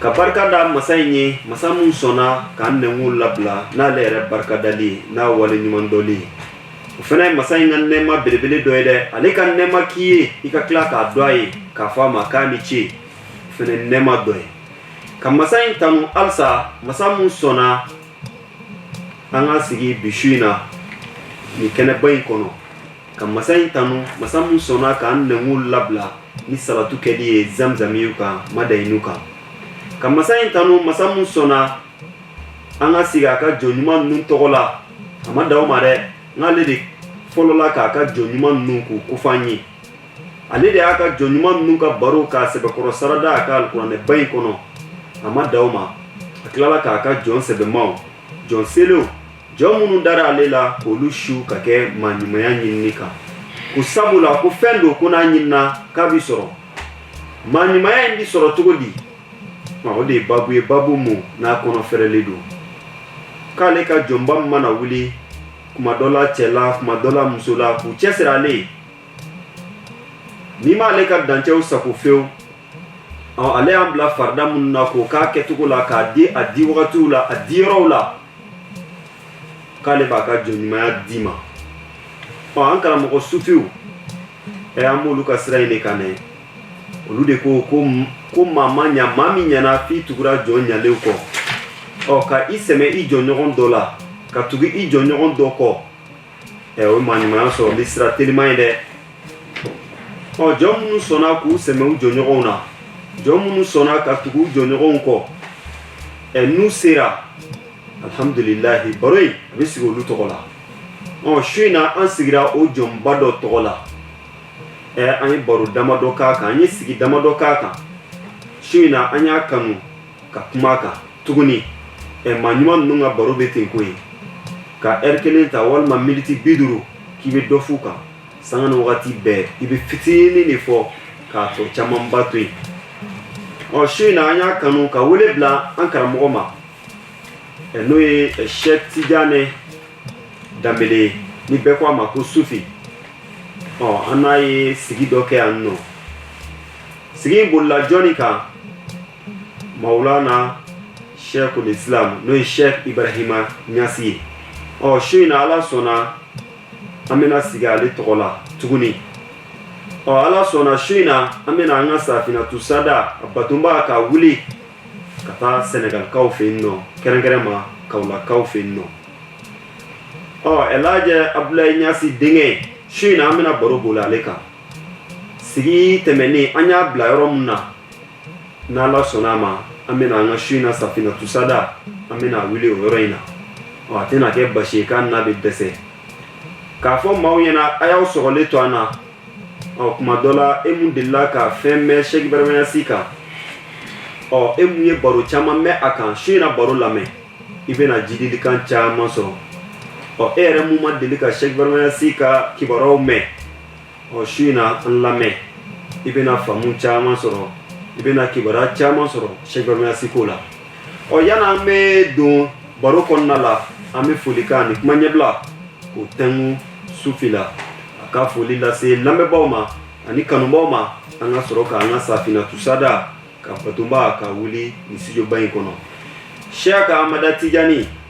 ka barika da masa in ye masa min sɔnna k'an nɛngu labila n'ale yɛrɛ barikadali ye n'a wale ɲuman dɔnli ye o fana ye masa in ka nɛɛma belebele dɔ ye dɛ ale ka nɛɛma k'i ye i ka tila k'a dɔn a ye k'a fɔ a ma k'a ni ce o fana ye nɛɛma dɔ ye ka masa in tanu halisa masa min sɔnna an ka sigi bi su in na nin kɛnɛba in kɔnɔ ka masa in tanu masa min sɔnna k'an nɛngu labila ni salatu kɛli ye zamzamiyu kan madayinu kan ka masa in tanu masa min sɔnna an ka sigi a ka jɔn ɲuman ninnu tɔgɔ la a ma dan o ma dɛ nk'ale de fɔlɔla k'a ka jɔn ɲuman ninnu k'u kofɔ an ye ale de y'a ka jɔn ɲuman ninnu ka baro k'a sɛbɛkɔrɔ sarada a ka alikuranɛba in kɔnɔ a ma dan o ma a tilala k'a ka jɔn sɛbɛmaw jɔn selenw jɔn minnu dara ale la k'olu su ka kɛ maaɲumanya ɲinini kan ko sabula ko fɛn don ko n'a ɲinina k'a bi sɔrɔ maaɲumanya in bi sɔrɔ cogo di o de ye babu ye babu min n'a kɔnɔ fɛrɛlen don k'ale ka jɔnba min mana wuli kuma dɔ la cɛ la kuma dɔ la muso la k'u cɛsiri ale ye n'i m'ale ka dancɛw sagon fewu ɔ ale y'an bila farida minnu na k'o k'a kɛcogo la k'a di a di wagatiw la a di yɔrɔw la k'ale b'a ka jɔnɲumanya d'i ma ɔ an karamɔgɔ sufiw ɛ an b'olu ka sira in de kan dɛ olu de ko ko maa ma ɲa maa min ɲana f'i tugura jɔn ɲalenw kɔ ɔ ka i sɛmɛ i jɔɲɔgɔn dɔ la ka tugu i jɔɲɔgɔn dɔ kɔ ɛ o ye maaɲumanya sɔrɔli sira teliman ye dɛ ɔ jɔn minnu sɔnna k'u sɛmɛ u jɔɲɔgɔnw na jɔn minnu sɔnna ka tugu u jɔɲɔgɔnw kɔ ɛ n'u sera alhamdulilahi baro in a bɛ sigi olu tɔgɔ la ɔ su in na an sigira o jɔnba dɔ tɔgɔ la ɛ an ye baro damadɔ k'a kan an ye sigi damadɔ k'a kan su in na an y'a kanu ka kuma a kan tuguni ɛ maa ɲuman ninnu ka baro bɛ ten ko ye ka ɛri kelen ta walima militi bi duuru k'i bɛ dɔ f'u kan sanga ni wagati bɛɛ i bɛ fitinin de fɔ k'a tɔ camanba to yen ɔ su in na an y'a kanu ka wele bila an karamɔgɔ ma ɛ n'o ye ɛ sheikh tijane danbele ye ni bɛɛ ko a ma ko sufi ɔ an n'a ye sigi dɔ kɛ yan nɔ sigi in bolila jɔnni kan maulana sheikhul islam n'o ye sheikh ibrahima ɲasi ye ɔ su in na ala sɔnna an bɛna sigi ale tɔgɔ la tuguni ɔ ala sɔnna su in na an bɛna an ka safinatu saada a batonba k'a wuli ka taa sɛnɛgalikaw fɛ yen nɔ kɛrɛnkɛrɛn ma kawulakaw fɛ yen nɔ ɔ ɛlajɛ abudulayi ɲasi denkɛ su in na an bɛna baro boli ale kan sigi tɛmɛnen an y'a bila yɔrɔ min na n' ala sɔnna a ma an bɛna an ka su in na safinatu sada an bɛna wuli o yɔrɔ in na ɔ a tɛna kɛ basi ye k'an n'a bɛ dɛsɛ k'a fɔ maaw ɲɛna a y'aw sɔgɔlen to an na ɔ kuma dɔ la e mun delila ka fɛn mɛn sɛki barama ɲasi kan ɔ e mun ye baro caman mɛn a kan su in na baro lamɛn i bɛna jidilikan caman sɔrɔ ɔ e yɛrɛ mun ma deli ka sɛki barama ɲasi ka kibaruyaw mɛn ɔ su in na an lamɛn i bɛna faamu caman sɔrɔ i bɛna kibaruya caman sɔrɔ sɛki barama ɲasi ko la ɔ yan'an bɛ don baro kɔnɔna la an bɛ folikan ni kuma ɲɛbila k'o tɛnku sufi la a ka foli lase lamɛnbaaw ma ani kanubaaw ma an ka sɔrɔ k'an ka safinatu sada ka batonba ka wuli nin studio ba in kɔnɔ siyaka amada tijani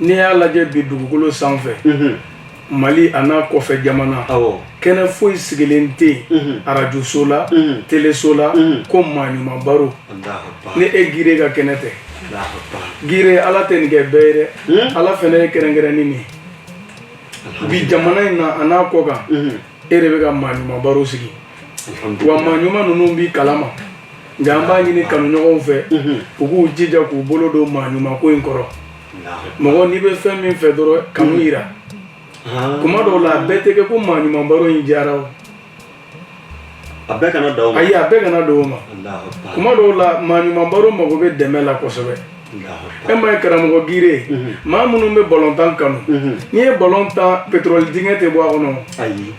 n'i y'a lajɛ bi dugukolo sanfɛ mali a n'a kɔfɛ jamana kɛnɛ foyi sigilen tɛ yen arajoso la teleso la ko maa ɲuman baro ni e gire ka kɛnɛ tɛ gire ala tɛ nin kɛ bɛɛ ye dɛ ala fɛnɛ y'e kɛrɛnkɛrɛn ni nin bi jamana in na a n'a kɔ kan e de bɛ ka maa ɲuman baro sigi wa maa ɲuman ninnu b'i kalama nka an b'a ɲini kanuɲɔgɔnw fɛ mhm. u k'u jija k'u bolo don maa ɲuman ko in kɔrɔ mɔgɔ n'i bɛ fɛn min fɛ dɔrɔn kanu yira ah. kuma dɔw la a bɛɛ tɛ kɛ ko maa ɲuman baro in diyara o a bɛɛ kana dan o ma ayi a bɛɛ kana dan o ma kuma dɔw la maa ɲuman baro mago bɛ dɛmɛ la kosɛbɛ e ma ye karamɔgɔ gire maa minnu bɛ balontan kanu n'i ye balontan petroli dingɛ tɛ bɔ a kɔnɔ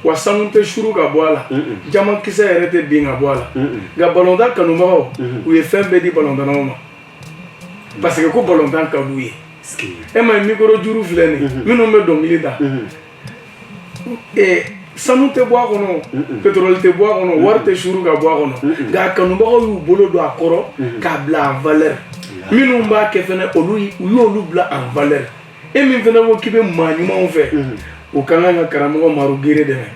wa sanu tɛ suru ka bɔ a la jaman kisɛ yɛrɛ tɛ bin ka bɔ a la nka balontan kanubagaw u ye fɛn bɛɛ di balontannaw ma parce que ko balontan ka d'u ye e ma ye mikoro juru filɛ nin minnu bɛ dɔnkili da ee sanu tɛ bɔ a kɔnɔ pétrole tɛ bɔ a kɔnɔ wari tɛ suru ka bɔ a kɔnɔ nka a kanubagaw y'u bolo don a kɔrɔ k'a bila en valeur minnu b'a kɛ fɛnɛ olu u y'olu bila en valeur e min fɛnɛ ko k'i bɛ maa ɲumanw fɛ o ka kan ka karamɔgɔ maru gire dɛmɛ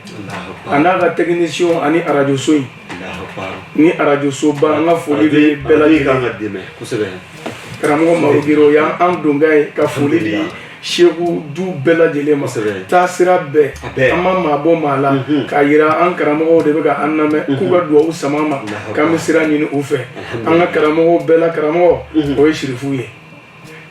a n'a ka technicien ani arajo so in ni arajo soba an ka foli bɛ bɛɛ lajɛlen karamɔgɔ maru gire o y'an donkan ye ka foli di segu du bɛɛ lajɛlen ma taa sira bɛɛ an ma maa bɔ maa la mhm. k'a yira an karamɔgɔw de bɛ ka an lamɛn mhm. k'u ka dugawu sama ma k'an bɛ sira ɲini u fɛ an ka karamɔgɔw bɛɛ la karamɔgɔ mhm. o ye sirifu ye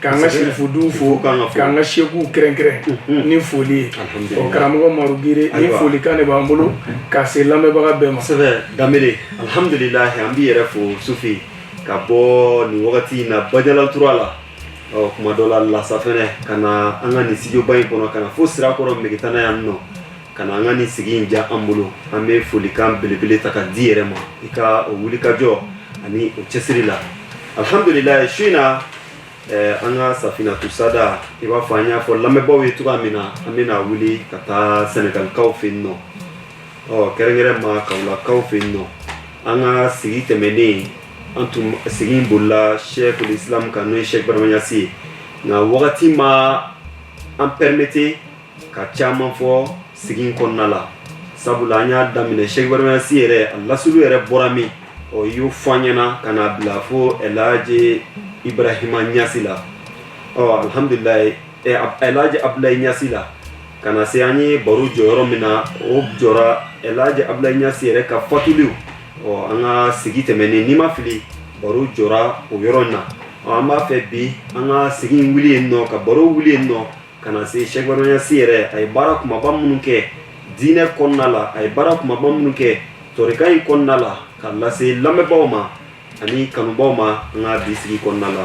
k'an ka sirifu duw fo k'an ka sekuw kɛrɛnkɛrɛn ni foli ye ɔ karamɔgɔ maru gire ni folikan de b'an bolo ka se lamɛnbaga bɛɛ ma sɛbɛ danbele alhamdulilahi an b'i yɛrɛ fo sufi ka bɔ nin wagati in na bajalan turuwa la ɔ kuma dɔ la lasa fɛnɛ ka na an ka nin situdiyoba in kɔnɔ ka na fo sirakɔrɔ megetana yan nɔ ka na an ka nin sigi in diya an bolo an bɛ folikan belebele ta ka d'i yɛrɛ ma i ka o wulikajɔ ani o cɛsiri la alhamdulilayi su in na eh, an ka safinatu sada i b'a fɔ an y'a fɔ lamɛnbaaw ye cogoya min na an bɛna wuli ka taa sɛnɛgalikaw fɛ yen nɔ ɔ kɛrɛnkɛrɛn ma kawulakaw fɛ yen nɔ an ka sigi tɛmɛnen an tun sigi in bolila sɛkul islam kan n'o ye sɛk barama ɲasi ye nka wagati ma an pɛrɛmete ka caman fɔ sigi in kɔnɔna la sabula an y'a daminɛ sɛk barama ɲasi yɛrɛ a lasulu yɛrɛ bɔra min ɔ i y'o fɔ an ɲɛna ka n'a bila fo elaje ibrahima ɲasi la ɔ alhamdulilayi elaje abdulayi ɲasi la ka na se an ye baro jɔ yɔrɔ min na o jɔra elaje abdulayi ɲasi yɛrɛ ka fatuliw ɔ an ka sigi tɛmɛnen ni n ma fili baro jɔra o yɔrɔ in na ɔ an b'a fɛ bi an ka sigi in wuli yen nɔ ka baro wuli yen nɔ ka na se sɛk barama ɲasi yɛrɛ a ye baara kumaba minnu kɛ diinɛ kɔnɔna la a ye baara kumaba minnu kɛ tɔrika in kɔnɔna la ka lase lamɛnbaaw ma ani kanubaw ma an ka bi sigi kɔnɔna la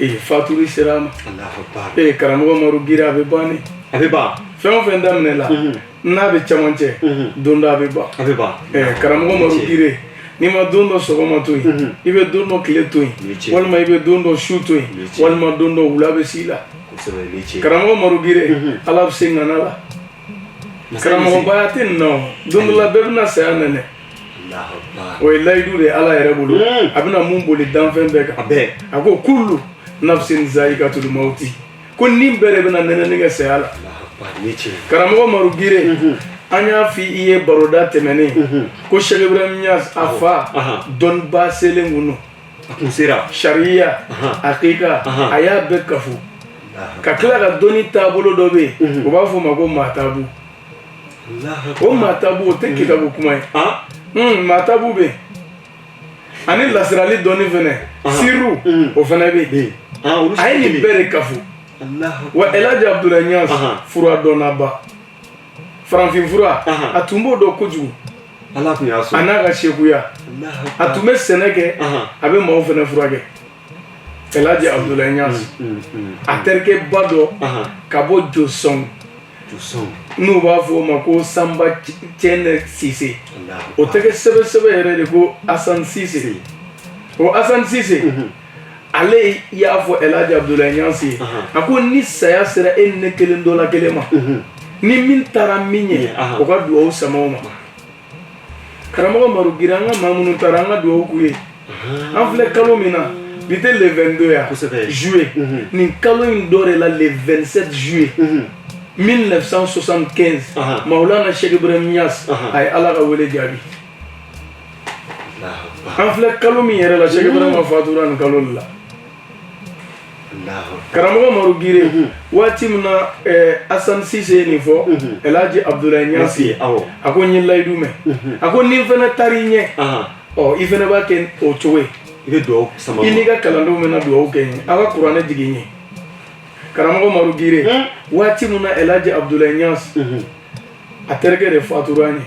ee fatuli sera a ma ee karamɔgɔ maru gire a bɛ ban ne a bɛ ban fɛn o fɛn daminɛ la n'a bɛ camancɛ don dɔ a bɛ ban a bɛ ban ee karamɔgɔ maru gire n'i ma don dɔ sɔgɔma to yen i bɛ don dɔ tile to yen walima i bɛ don dɔ su to yen walima don dɔ wula bɛ s'i la karamɔgɔ maru gire ala bɛ se ŋana la karamɔgɔbaya tɛ nin na don dɔ la bɛɛ bɛna saya nɛnɛ o ye layidu de ye ala yɛrɛ bolo hmm. a bɛna mun boli danfɛn bɛɛ kan a ko kullu nafsin zaikatul mauti ko ni bɛɛ de bɛna nɛnɛni kɛ saya la karamɔgɔ maru gire mhm. an y'a f'i ye baroda tɛmɛnen mhm. ko sɛk ibrahim ɲas a fa dɔnnibaa selen kun don a kun sera sariya hakika a y'a bɛɛ kafu ka tila ka dɔnni taabolo dɔ bɛ yen u b'a fɔ o ma ko matabu o matabu o tɛ kitabu kuma ye hmm, matabu bɛ yen ani lasirali dɔnni fɛnɛ siru o fɛnɛ bɛ yen a ye nin bɛɛ de kafu wa elaji abudulayi ɲas fura dɔnnaba farafinfura a tun b'o dɔn kojugu Ala tun y'a sɔn a n'a ka sekuya a tun bɛ sɛnɛ kɛ a bɛ maaw fɛnɛ furakɛ Elhaji Abudulayi Ɲasi a terikɛ ba dɔ ka bɔ Josɔn n'u b'a fɔ o ma ko Sanba Cɛnɛ Sise o tɛgɛ sɛbɛ sɛbɛ yɛrɛ de ko Asani Sise o Asani Sise ale y'a fɔ Elhaji Abudulayi Ɲasi ye a ko ni saya sera e ni ne kelen dɔ la kelen ma ni min taara min ɲɛ o ka dugawu sama o ma karamɔgɔ Maru Gire an ka maa minnu taara an ka dugawu k'u ye an filɛ kalo min na bi tɛ le 22 ya juillet nin kalo in dɔ de la le 27 juillet 1975 Mawulana Sɛki Ibrahim Ɲas a ye Ala ka wele jaabi an filɛ kalo min yɛrɛ la sɛki ibrahim fatura nin kalo la karamɔgɔ maru gire mhm. waati min na eh, asan sise ye nin fɔ mhm. elaji abudulayi ɲasi ye a ko n ye layidu mɛn mhm. a ko ni n fɛnɛ taara i ɲɛ ɔ i fɛnɛ b'a kɛ o cogo ye i bɛ dugawu sama i n'i ka kalandenw bɛna dugawu kɛ n ye aw ka kuranɛ jigin n ye karamɔgɔ maru gire waati min na elaji abudulayi ɲasi a terikɛ de fatura n ye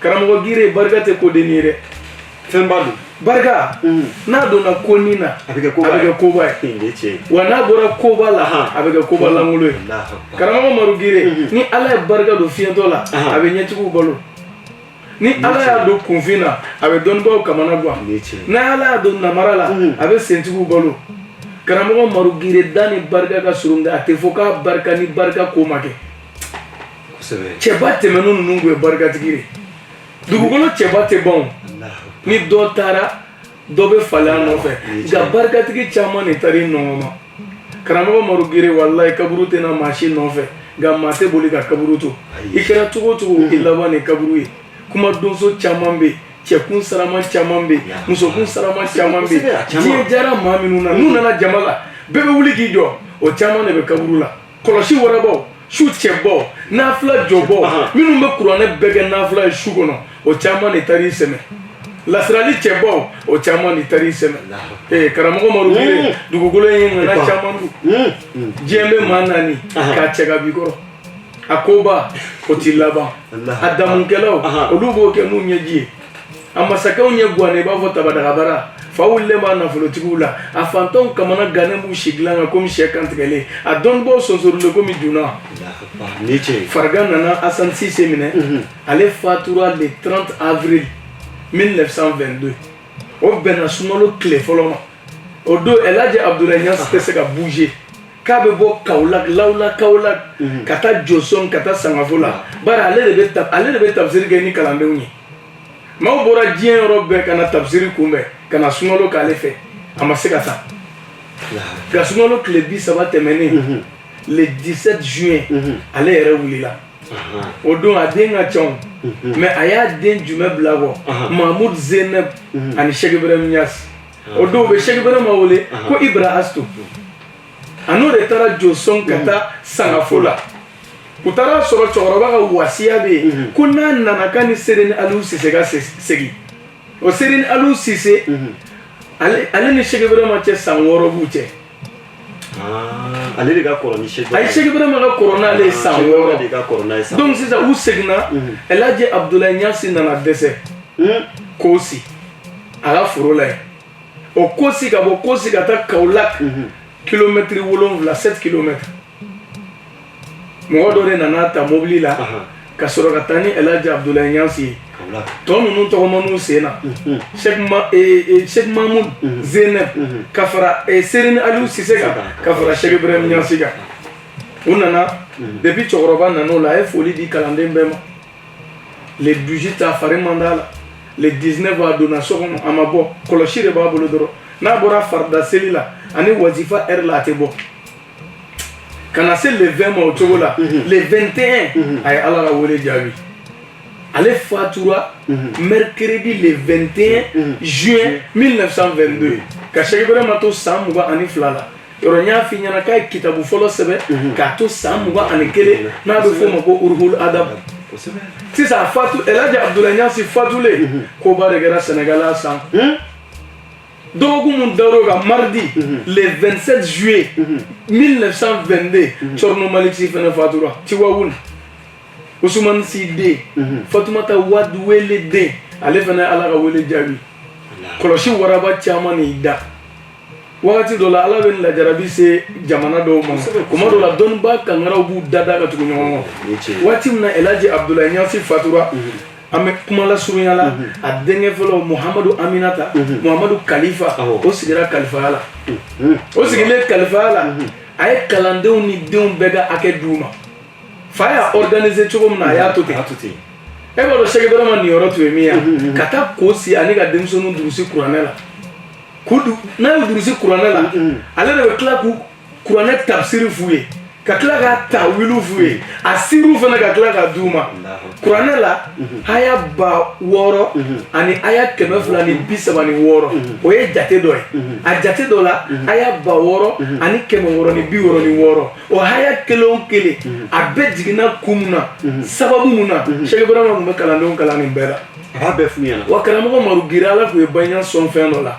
karamɔgɔ gire barika tɛ koden ye dɛ fɛnba don barika mm. n'a donna konin na a bɛ kɛ koba ye mm, wa n'a bɔra koba la a bɛ kɛ koba lankolon ye karamɔgɔ maru gire mm-hmm. ni ala ye barika don fiyentɔ la a bɛ ɲɛtigiw balo ni ala y'a don kunfin na a bɛ dɔnnibaaw kamana gan ni ala y'a don namara la mm-hmm. a bɛ sentigiw balo karamɔgɔ maru gire da ni barika ka surun a tɛ fɔ k'a barika ni barika ko ma kɛ cɛba tɛmɛnen ninnu tun ye barikatigi de dugukolo cɛba tɛ ban ni dɔ taara dɔ bɛ falen a nɔfɛ nka barikatigi caman de taara i nɔgɔ ma karamɔgɔ maru gire walayi kaburu tɛ na maa si nɔfɛ nka maa tɛ boli ka kaburu to i kɛra cogo o cogo i laban ni kaburu ye kuma donso caman bɛ yen cɛkun sarama caman bɛ yen musokun sarama caman bɛ yen diɲɛ diyara maa minnu na n'u nana jama la bɛɛ bɛ wuli k'i jɔ o caman de bɛ kaburu la kɔlɔsi wɛrɛbaw su cɛbaw nafila jɔbaw minnu bɛ kuranɛ bɛɛ kɛ nafila ye su kɔnɔ o caman de taara i sɛmɛ lasirali cɛbaw o caman de taara i sɛmɛ ee karamɔgɔ maru gire dugukolo in ye ŋana caman dun diɲɛ bɛ maa naani k'a cɛ ka b'i kɔrɔ a koba o t'i laban a damukɛlaw olu b'o kɛ n'u ɲɛji ye a masakɛw ɲɛ gannen i b'a fɔ tabadagabara fa wulilen b'a nafolotigiw la a fantanw kamana gannen b'u si dilan kan komi sɛ kantigɛlen a dɔnnibaaw sonsorilen komi dunan farigan nana asan sise minɛ mhm. ale fatura le 30 avril 1922 o bɛnna sunkalo tile fɔlɔ ma o don elhaji abudulayi ɲasi tɛ se ka bouger k'a bɛ bɔ kawulak lewona kawulak mhm. ka taa josɔn ka taa sangafo la bari ale de bɛ ta ale de bɛ tafsiri kɛ ni kalandenw ye maaw bɔra diɲɛ yɔrɔ bɛɛ ka na tafsiri kunbɛn ka na sunkalo k'ale fɛ a ma se ka taa nka sunkalo tile bi saba tɛmɛnen mhm. le 17 juin mhm. ale yɛrɛ wulila o don a den ka ca mais a y'a den jumɛn bila kɔ mahmud zeneb ani sɛki ibrahim ɲasi o don u bɛ sɛki ibrahima wele ko ibra astu a n'o de taara josɔn ka taa sangafo la u taara sɔrɔ cɛkɔrɔba ka wasiya bɛ yen ko n'a nana k'a ni serin aliw sise ka segin o serin aliw sise ale ni sɛki ibrahima cɛ san wɔɔrɔ b'u cɛ Ah, ale de ka kɔrɔ ni Sɛki Ayi Sɛki Ibrahima ka kɔrɔ n'ale ye ah, san wɔɔrɔ de ka kɔrɔ n'a ye san donc sisan u seginna mhm. El Hadji Abdoulaye Niassi nana dɛsɛ hmm? Kosi a ka foro la yen o Kosi ka bɔ Kosi ka taa Kaolack kilomɛtiri mhm. wolonwula sept kilomɛtiri mɔgɔ dɔ de nan'a ta mobili la ka sɔrɔ ka taa ni Elhaji Abudulayi Ɲansi ye tɔ ninnu tɔgɔman'u sen na Sɛki Mahamud Zenɛb ka fara Serini Aliyu Sise kan ka fara Sɛki Ibrahim Ɲansi kan u nana depuis cɛkɔrɔba nan'o la a ye foli di kalanden bɛɛ ma le 18 a fari man d'a la le 19 a donna so kɔnɔ a ma bɔ kɔlɔsi de b'a bolo dɔrɔn n'a bɔra farida seli la ani wazifa heure la a tɛ bɔ ka na se le 20 ma o cogo la mhm. le 21 mhm. a ye ala ka wele jaabi ale fatura mhm. mercredi le 21 juin 1922 ka sɛki ibrahima to san mugan ani fila la yɔrɔ n y'a f'i ɲɛna k'a ye kitabu fɔlɔ sɛbɛn k'a to san mugan ani kelen n'a bɛ f'o ma ko ruhul adab sisan fatu elaji abdulayi ɲasi fatulen koba de kɛra sɛnɛgali a san dɔgɔkun mun dar'o kan mardi mhm. le 27 juillet 1922 mhm. cɔrɔnɔ mhm. maliki si fɛnɛ fatura tiwawuni usumani si den fatumata wadi wele den ale fɛnɛ ye ala ka wele jaabi kɔlɔsi waraba caman y'i da wagati dɔ la ala bɛ lajarabi se jamana dɔw ma kuma dɔ la dɔnnibaa kangaraw b'u dada ka tugu ɲɔgɔn kɔ waati min na elaji abudulayi ɲasi fatura an bɛ kuma lasurunya la a denkɛ fɔlɔ muhamadu aminata muhamadu kalifa o sigira kalifaya la o sigilen kalifaya la a ye kalandenw ni denw bɛɛ ka hakɛ d'u ma fa y'a organiser cogo min na a y'a to ten e b'a dɔn sɛki ibrahima niyɔrɔ tun ye min ye ka taa kosi ani ka denmisɛnninw durusi kuranɛ la k'u n'a ye durusi kuranɛ la ale de bɛ tila k'u kuranɛ tafsiri f'u ye ka tila ka tawiliw f'u ye a siriw fana ka tila ka d'u ma kuranɛ la aya ba wɔɔrɔ ani aya kɛmɛ fila ni bi saba ni wɔɔrɔ o ye jate dɔ ye a jate dɔ la aya ba wɔɔrɔ ani kɛmɛ wɔɔrɔ ni bi wɔɔrɔ ni wɔɔrɔ o aya kelen o kelen a bɛɛ jiginna kun mun na sababu mun na Cheikh Ibrahima tun bɛ kalandenw kalan nin bɛɛ la a b'a bɛɛ f'u ɲɛna wa karamɔgɔ maru gire ala tun ye ba ɲasi sɔn fɛn dɔ la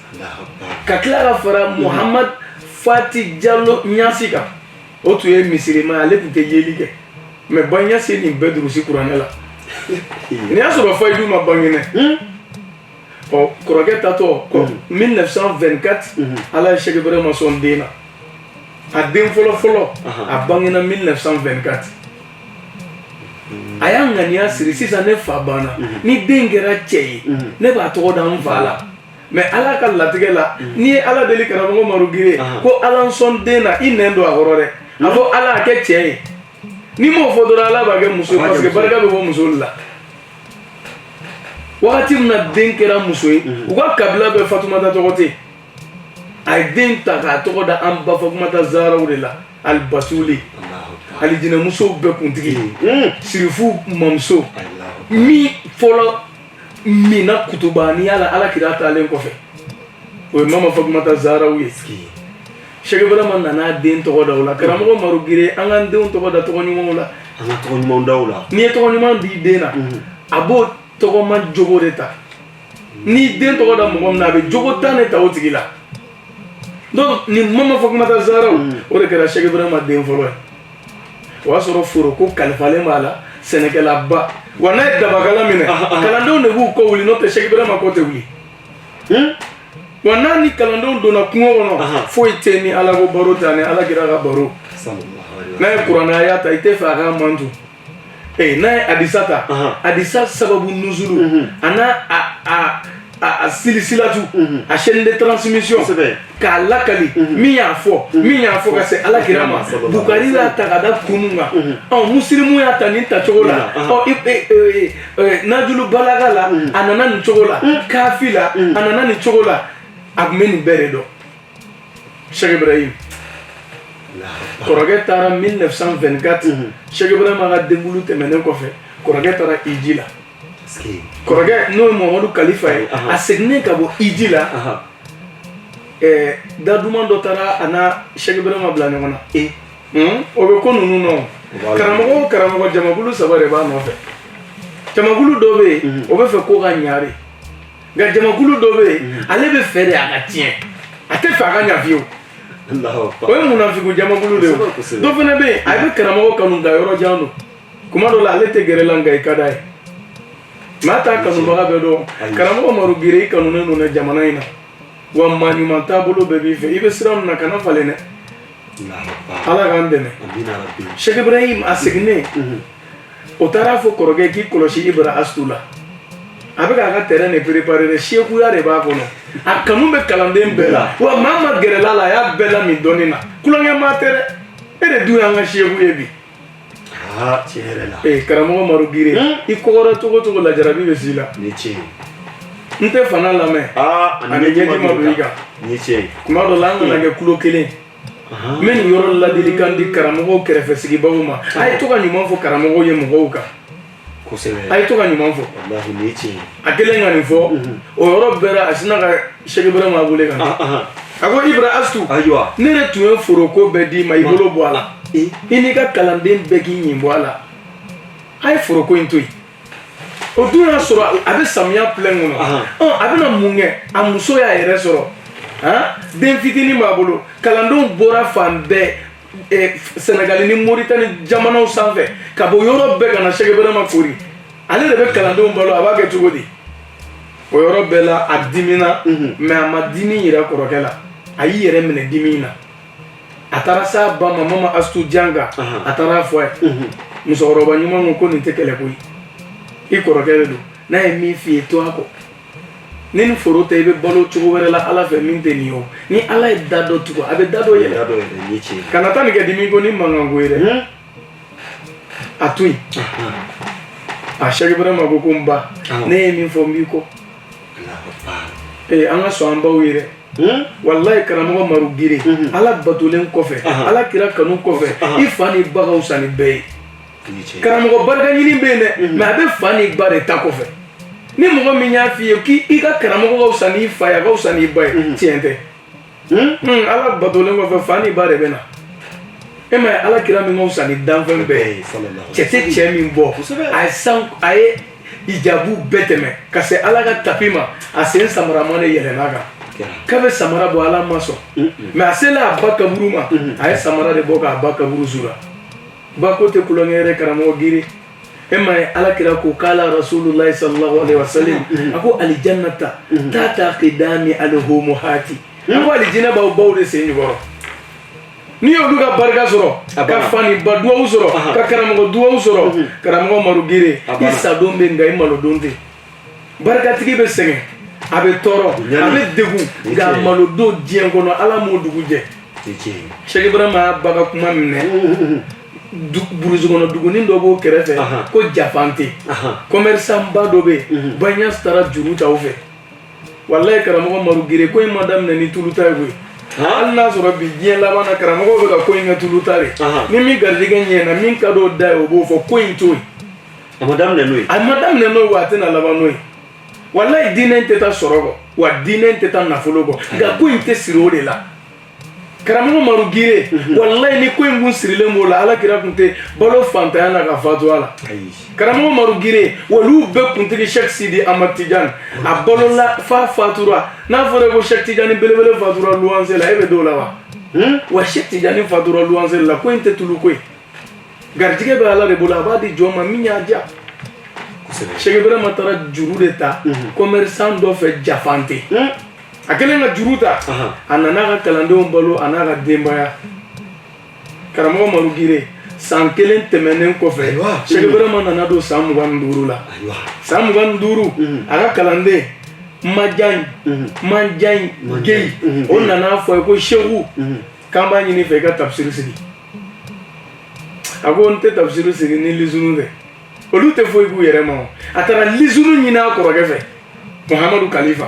ka tila ka fara muhamad fati jalo ɲasi kan o tun ye misilima ye ale tun tɛ yeli kɛ mais ba ɲasi nin bɛɛ durusi kuranɛ la nin y'a sɔrɔ fayidu ma bange dɛ ɔ kɔrɔkɛ taatɔ 1924 ala ye Cheikh Ibrahima sɔn den na a den fɔlɔ fɔlɔ a bangena 1924 a y'a ŋaniya siri sisan ne fa banna ni den kɛra cɛ ye ne b'a tɔgɔ da n fa la mais ala ka latigɛ la n'i ye ala deli karamɔgɔ maru gire ko ala n sɔn den na i nɛn don a kɔrɔ dɛ a fɔ ala a kɛ cɛ ye n'i m'o fɔ dɔrɔn ala b'a kɛ muso ye parce que barika bɛ bɔ muso la wagati min na den kɛra muso ye u ka kabila bɛɛ fatumata tɔgɔ tɛ yen a ye den ta k'a tɔgɔ da an ba fatumata zaraw de la alibatuli alijinɛmusow bɛɛ kuntigi sirifu mamuso min fɔlɔ minna kutubaniya la ala kira taalen kɔfɛ o ye mama fatumata zaraw ye Cheikh Ibrahima nana den tɔgɔ da o la karamɔgɔ maru gire an k'an denw tɔgɔ da tɔgɔ ɲumanw la an ka tɔgɔ ɲumanw da o la n'i ye tɔgɔ ɲuman d'i den na mhm. a b'o tɔgɔma jogo de ta ni den tɔgɔ da mɔgɔ min na a bɛ jogo tan de ta o tigi la donc nin mama fatumata zaraw mhm. o de kɛra Cheikh Ibrahima den fɔlɔ ye o y'a sɔrɔ foro ko kalifalen b'a la sɛnɛkɛlaba wa n'a ye dabakala minɛ kalandenw de b'u kɔ wuli n'o tɛ Cheikh Ibrahima kɔ tɛ wuli hmm? wa n'a ni kalandenw donna kungo kɔnɔ foyi tɛ ni ala ko baro tɛ ani ala kira ka baro n'a ye kuranɛ aya ta i tɛ fɛ a k'a mantu ee n'a ye adisa ta adisa sababu nuzulu mhm. a n'a a a silisilatu mhm. a chaîne de transmission k'a lakali mhm. min y'a fɔ min y'a fɔ ka se ala kira ma bukari y'a ta ka da kun mun kan ɔ musilimu y'a ta nin tacogo la ɔ e, e, najulu balaga la a nana nin cogo la kafi la a nana nin cogo la a tun bɛ nin bɛɛ de dɔn Cheikh Ibrahim kɔrɔkɛ taara 1924 Cheikh Ibrahima ka denkundi tɛmɛnen kɔfɛ kɔrɔkɛ taara iji la kɔrɔkɛ n'o ye mamadu kalifa ye a seginnen ka bɔ iji la daduman dɔ taara a na Cheikh Ibrahima bila ɲɔgɔn na e o bɛ ko ninnu nɔ karamɔgɔ karamɔgɔ jamakulu saba de b'a nɔfɛ jamakulu dɔ bɛ yen o bɛ fɛ ko ka ɲare nka jamakulu dɔ bɛ yen mm. ale bɛ fɛ de a ka tiɲɛ a tɛ fɛ a ka ɲa fiyewu o ye munafiku jamakulu de ye dɔ fana bɛ yen a bɛ karamɔgɔ kanu nka yɔrɔ jan don kuma dɔ la ale tɛ gɛrɛ la nka i ka d'a ye maa t'a kanubaga bɛɛ dɔn karamɔgɔ maru gire i kanunen don dɛ jamana in na wa maa ɲuman taabolo bɛɛ b'i fɛ i bɛ sira min na kana falen dɛ ala k'an dɛmɛ sɛki ibrahim a seginnen o taara a fɔ kɔrɔkɛ k'i kɔlɔsi ibra astu la a bɛ k'a ka tɛrɛn de perepare dɛ sekuya de b'a kɔnɔ a kanu bɛ kalanden bɛɛ la wa maa maa gɛrɛl'a la a y'a bɛɛ lamin dɔɔnin na kulonkɛ maa tɛ dɛ e de dun y'an ka seku ye bi ah, tiɲɛ yɛrɛ la ee karamɔgɔ maru gire i kɔgɔra cogo cogo ala jarabi bɛ s'i la ni tiɲɛ n tɛ fana lamɛn ah, ani ɲɛji ma don i kan ni tiɲɛ kuma dɔ la an kana kɛ kulo kelen n bɛ nin yɔrɔ ladilikan di karamɔgɔw kɛrɛfɛ sigibagaw ma a ye to ka ɲuman fɔ karamɔgɔw ye mɔgɔw kan kosɛbɛ a ye to ka ɲuman fɔ walahi nin ye tiɲɛ ye a kɛlen ka nin fɔ o yɔrɔ bɛɛ la a sina ka sɛki ibrahima wele ka na a ko ibra astu ayiwa ne de tun ye foro ko bɛɛ d'i ma i bolo bɔ a la i n'i ka kalanden bɛɛ k'i ɲin bɔ a la a ye foro ko in to yen o dun y'a sɔrɔ a bɛ samiya pilɛn kɔnɔ a bɛna mun kɛ a muso y'a yɛrɛ sɔrɔ den fitinin b'a bolo kalandenw bɔra fan bɛɛ eh, sɛnɛgali ni moritani jamanaw sanfɛ ka bɔ yɔrɔ bɛɛ ka na sɛki ibrahima kɔrɔ ale de bɛ kalandenw balo a b'a kɛ cogo di o yɔrɔ bɛɛ la a dimina mɛ a ma dimi yira kɔrɔkɛ la a y'i yɛrɛ minɛ dimi na a taara s'a ba ma mama astu janga a taara a fɔ a ye musokɔrɔba ɲuman ko ko nin tɛ kɛlɛ koyi i kɔrɔkɛ de don n'a ye min f'i ye to a kɔ ni nin foro tɛ i bɛ balo cogo wɛrɛ la ala fɛ min tɛ nin ye o ni ala ye da dɔ tugu a bɛ da dɔ yɛlɛ kana taa nin kɛ dimi ko ni mankan ko ye dɛ a to yen a sɛki ibrahima ko ko n ba n'e ye min fɔ n b'i kɔ ee an ka sɔn an baw ye dɛ hmm? walayi karamɔgɔ maru gire hmm. ala batolen kɔfɛ ala kira kanu kɔfɛ i fa n'i ba ka wusa ni bɛɛ ye karamɔgɔ barika ɲini bɛ yen dɛ hmm. mɛ a bɛ fa ni ba de ta kɔfɛ ni mɔgɔ min y'a f'i ye k'i ka karamɔgɔ ka wusa n'i fa ye a ka wusa n'i ba ye tiɲɛ tɛ Hmm? Hmm, ala batolen kɔfɛ fa ni ba de bɛ na e m'a ye ala kira min ka wusa ni danfɛn bɛɛ ye cɛ tɛ cɛ min bɔ a ye san a ye hijabu bɛɛ tɛmɛ ka se ala ka tapi ma a sen samarama de yɛlɛnn'a kan k'a bɛ samara bɔ ala ma sɔn hmm, mɛ a sela a ba kaburu ma a ye samara de bɔ k'a ba kaburu zura ba ko tɛ kulonkɛ yɛrɛ karamɔgɔ gire e m'a ye ala kira ko qala rasulullahi sallallahu alaihi wasallam a ko alijannata tahta aqdami alummahati a ko alijinɛ b'aw baw de sen jukɔrɔ n'i y'olu ka barika sɔrɔ ka fa ni ba duwawu sɔrɔ ka karamɔgɔ duwawu sɔrɔ karamɔgɔ maru gire i sadon bɛ nka i malodon tɛ barikatigi bɛ sɛgɛn a bɛ tɔɔrɔ a bɛ degun nka a malodon diɲɛ kɔnɔ ala m'o dugu jɛ shek ibrahima y'a ba ka kuma minɛ burusi kɔnɔ dugunin dɔ b'o kɛrɛfɛ ko jafante commerçant ba dɔ bɛ yen mhm. bay ɲas taara juru ta o fɛ walayi karamɔgɔ maru gire ko in ma daminɛ ni tulu ta ye koyi hali n'a sɔrɔ bi diɲɛ laban na karamɔgɔw bɛ ka ko in kɛ tulu ta de ni min garijɛgɛ ɲɛna min ka d'o da ye o b'o fɔ ko in to yen a ma daminɛ n'o ye wa a tɛna laban n'o ye walayi diinɛ in tɛ taa sɔrɔ kɔ wa diinɛ in tɛ taa nafolo kɔ nka ko in tɛ siri o de la karamɔgɔ maru gire mhm. walayi ni ko in kun sirilen b'o la ala kira kun tɛ balo faantanya na ka fatu a la karamɔgɔ maru gire waliw bɛɛ kuntigi shek sidi ahmad tijani a balola fa fatura n'a fɔra ko shek tijani belebele fatura luwanse la e bɛ d'o la wa hmm? wa shek tijani fatura luwanse la ko in tɛ tulu ko ye garijɛgɛ bɛ ala de bolo a b'a di jɔn ma min y'a diya shek ibrahima taara juru de ta commerçant mhm. dɔ fɛ jafante hmm? a kɛlen ka juru ta a nana a ka kalandenw balo a n'a ka denbaya karamɔgɔ maru gire san kelen tɛmɛnen kɔfɛ shek ibrahima nana don san mugan ni duuru la san mugan ni duuru mhm. a ka kalanden majan mhm. majan geyi mhm. o nan'a f'a ye ko seku k'an b'a ɲini i fɛ i ka tafsiri sigi a ko n tɛ tafsiri sigi ni lisunu tɛ olu tɛ foyi k'u yɛrɛ ma a taara lisunu ɲini a kɔrɔkɛ fɛ muhamadu kalifa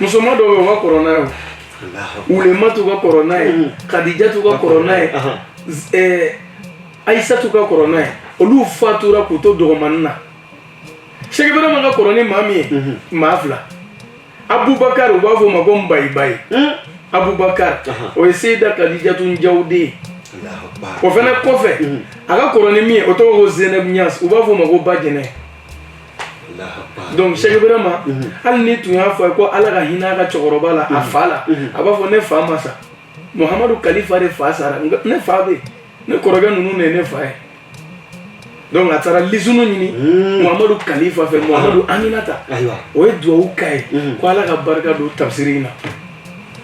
musoman dɔw bɛ u ka kɔrɔ n'a ye wulematu ka kɔrɔ n'a ye mm. kadijatu ka kɔrɔ n'a ye eh, ayisatu ka kɔrɔ n'a ye olu fatura k'u to dɔgɔmanin na shek ibrahima ka kɔrɔ ni maa min ye mm-hmm. maa fila abubakar u b'a fɔ o ma ko nbayibayi mm. abubakar o ye seyida kadijatu njaw den ye o fana kɔfɛ mm-hmm. a ka kɔrɔ ni min ye o tɔgɔ ko zenɛb ɲas u b'a fɔ o ma ko ba jɛnɛ donc shek ibrahima hali n'i tun y'a f'a ye ko ala ka hinɛ a ka cɛkɔrɔba la a fa la a b'a fɔ ne fa ma sa muhamadu kalifa de fa sara ne fa bɛ ne kɔrɔkɛ ninnu de ye ne fa ye donc a taara lisunu ɲini hmm. muhamadu kalifa fɛ muhamadu ah. aminata o ye duwawu k'a ye hmm. ko ala ka barika don tafsiri in na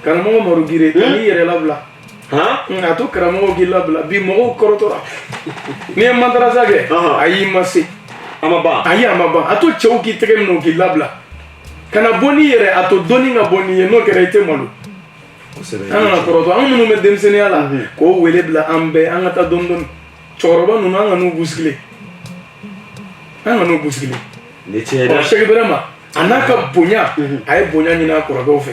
karamɔgɔ maru gire hmm. n'i yɛrɛ labila a to karamɔgɔ k'i labila bi mɔgɔw kɔrɔtɔra n'i ye madarasa kɛ a y'i ma se a ma ban a y'a ma ban a to cɛw k'i tɛgɛ minɛ k'i labila kana bɔ n'i yɛrɛ a to dɔnni ka bɔ n'i ye n'o kɛra i tɛ malo an kana kɔrɔtɔ an minnu bɛ denmisɛnninya la mhm. k'o wele bila an bɛɛ an ka taa dɔɔni dɔɔni cɛkɔrɔba ninnu an kan'u bousculer an kan'u bousculer ɔ sɛki ibrahima a n'a ka bonya mhm. a ye bonya ɲini a kɔrɔkɛw fɛ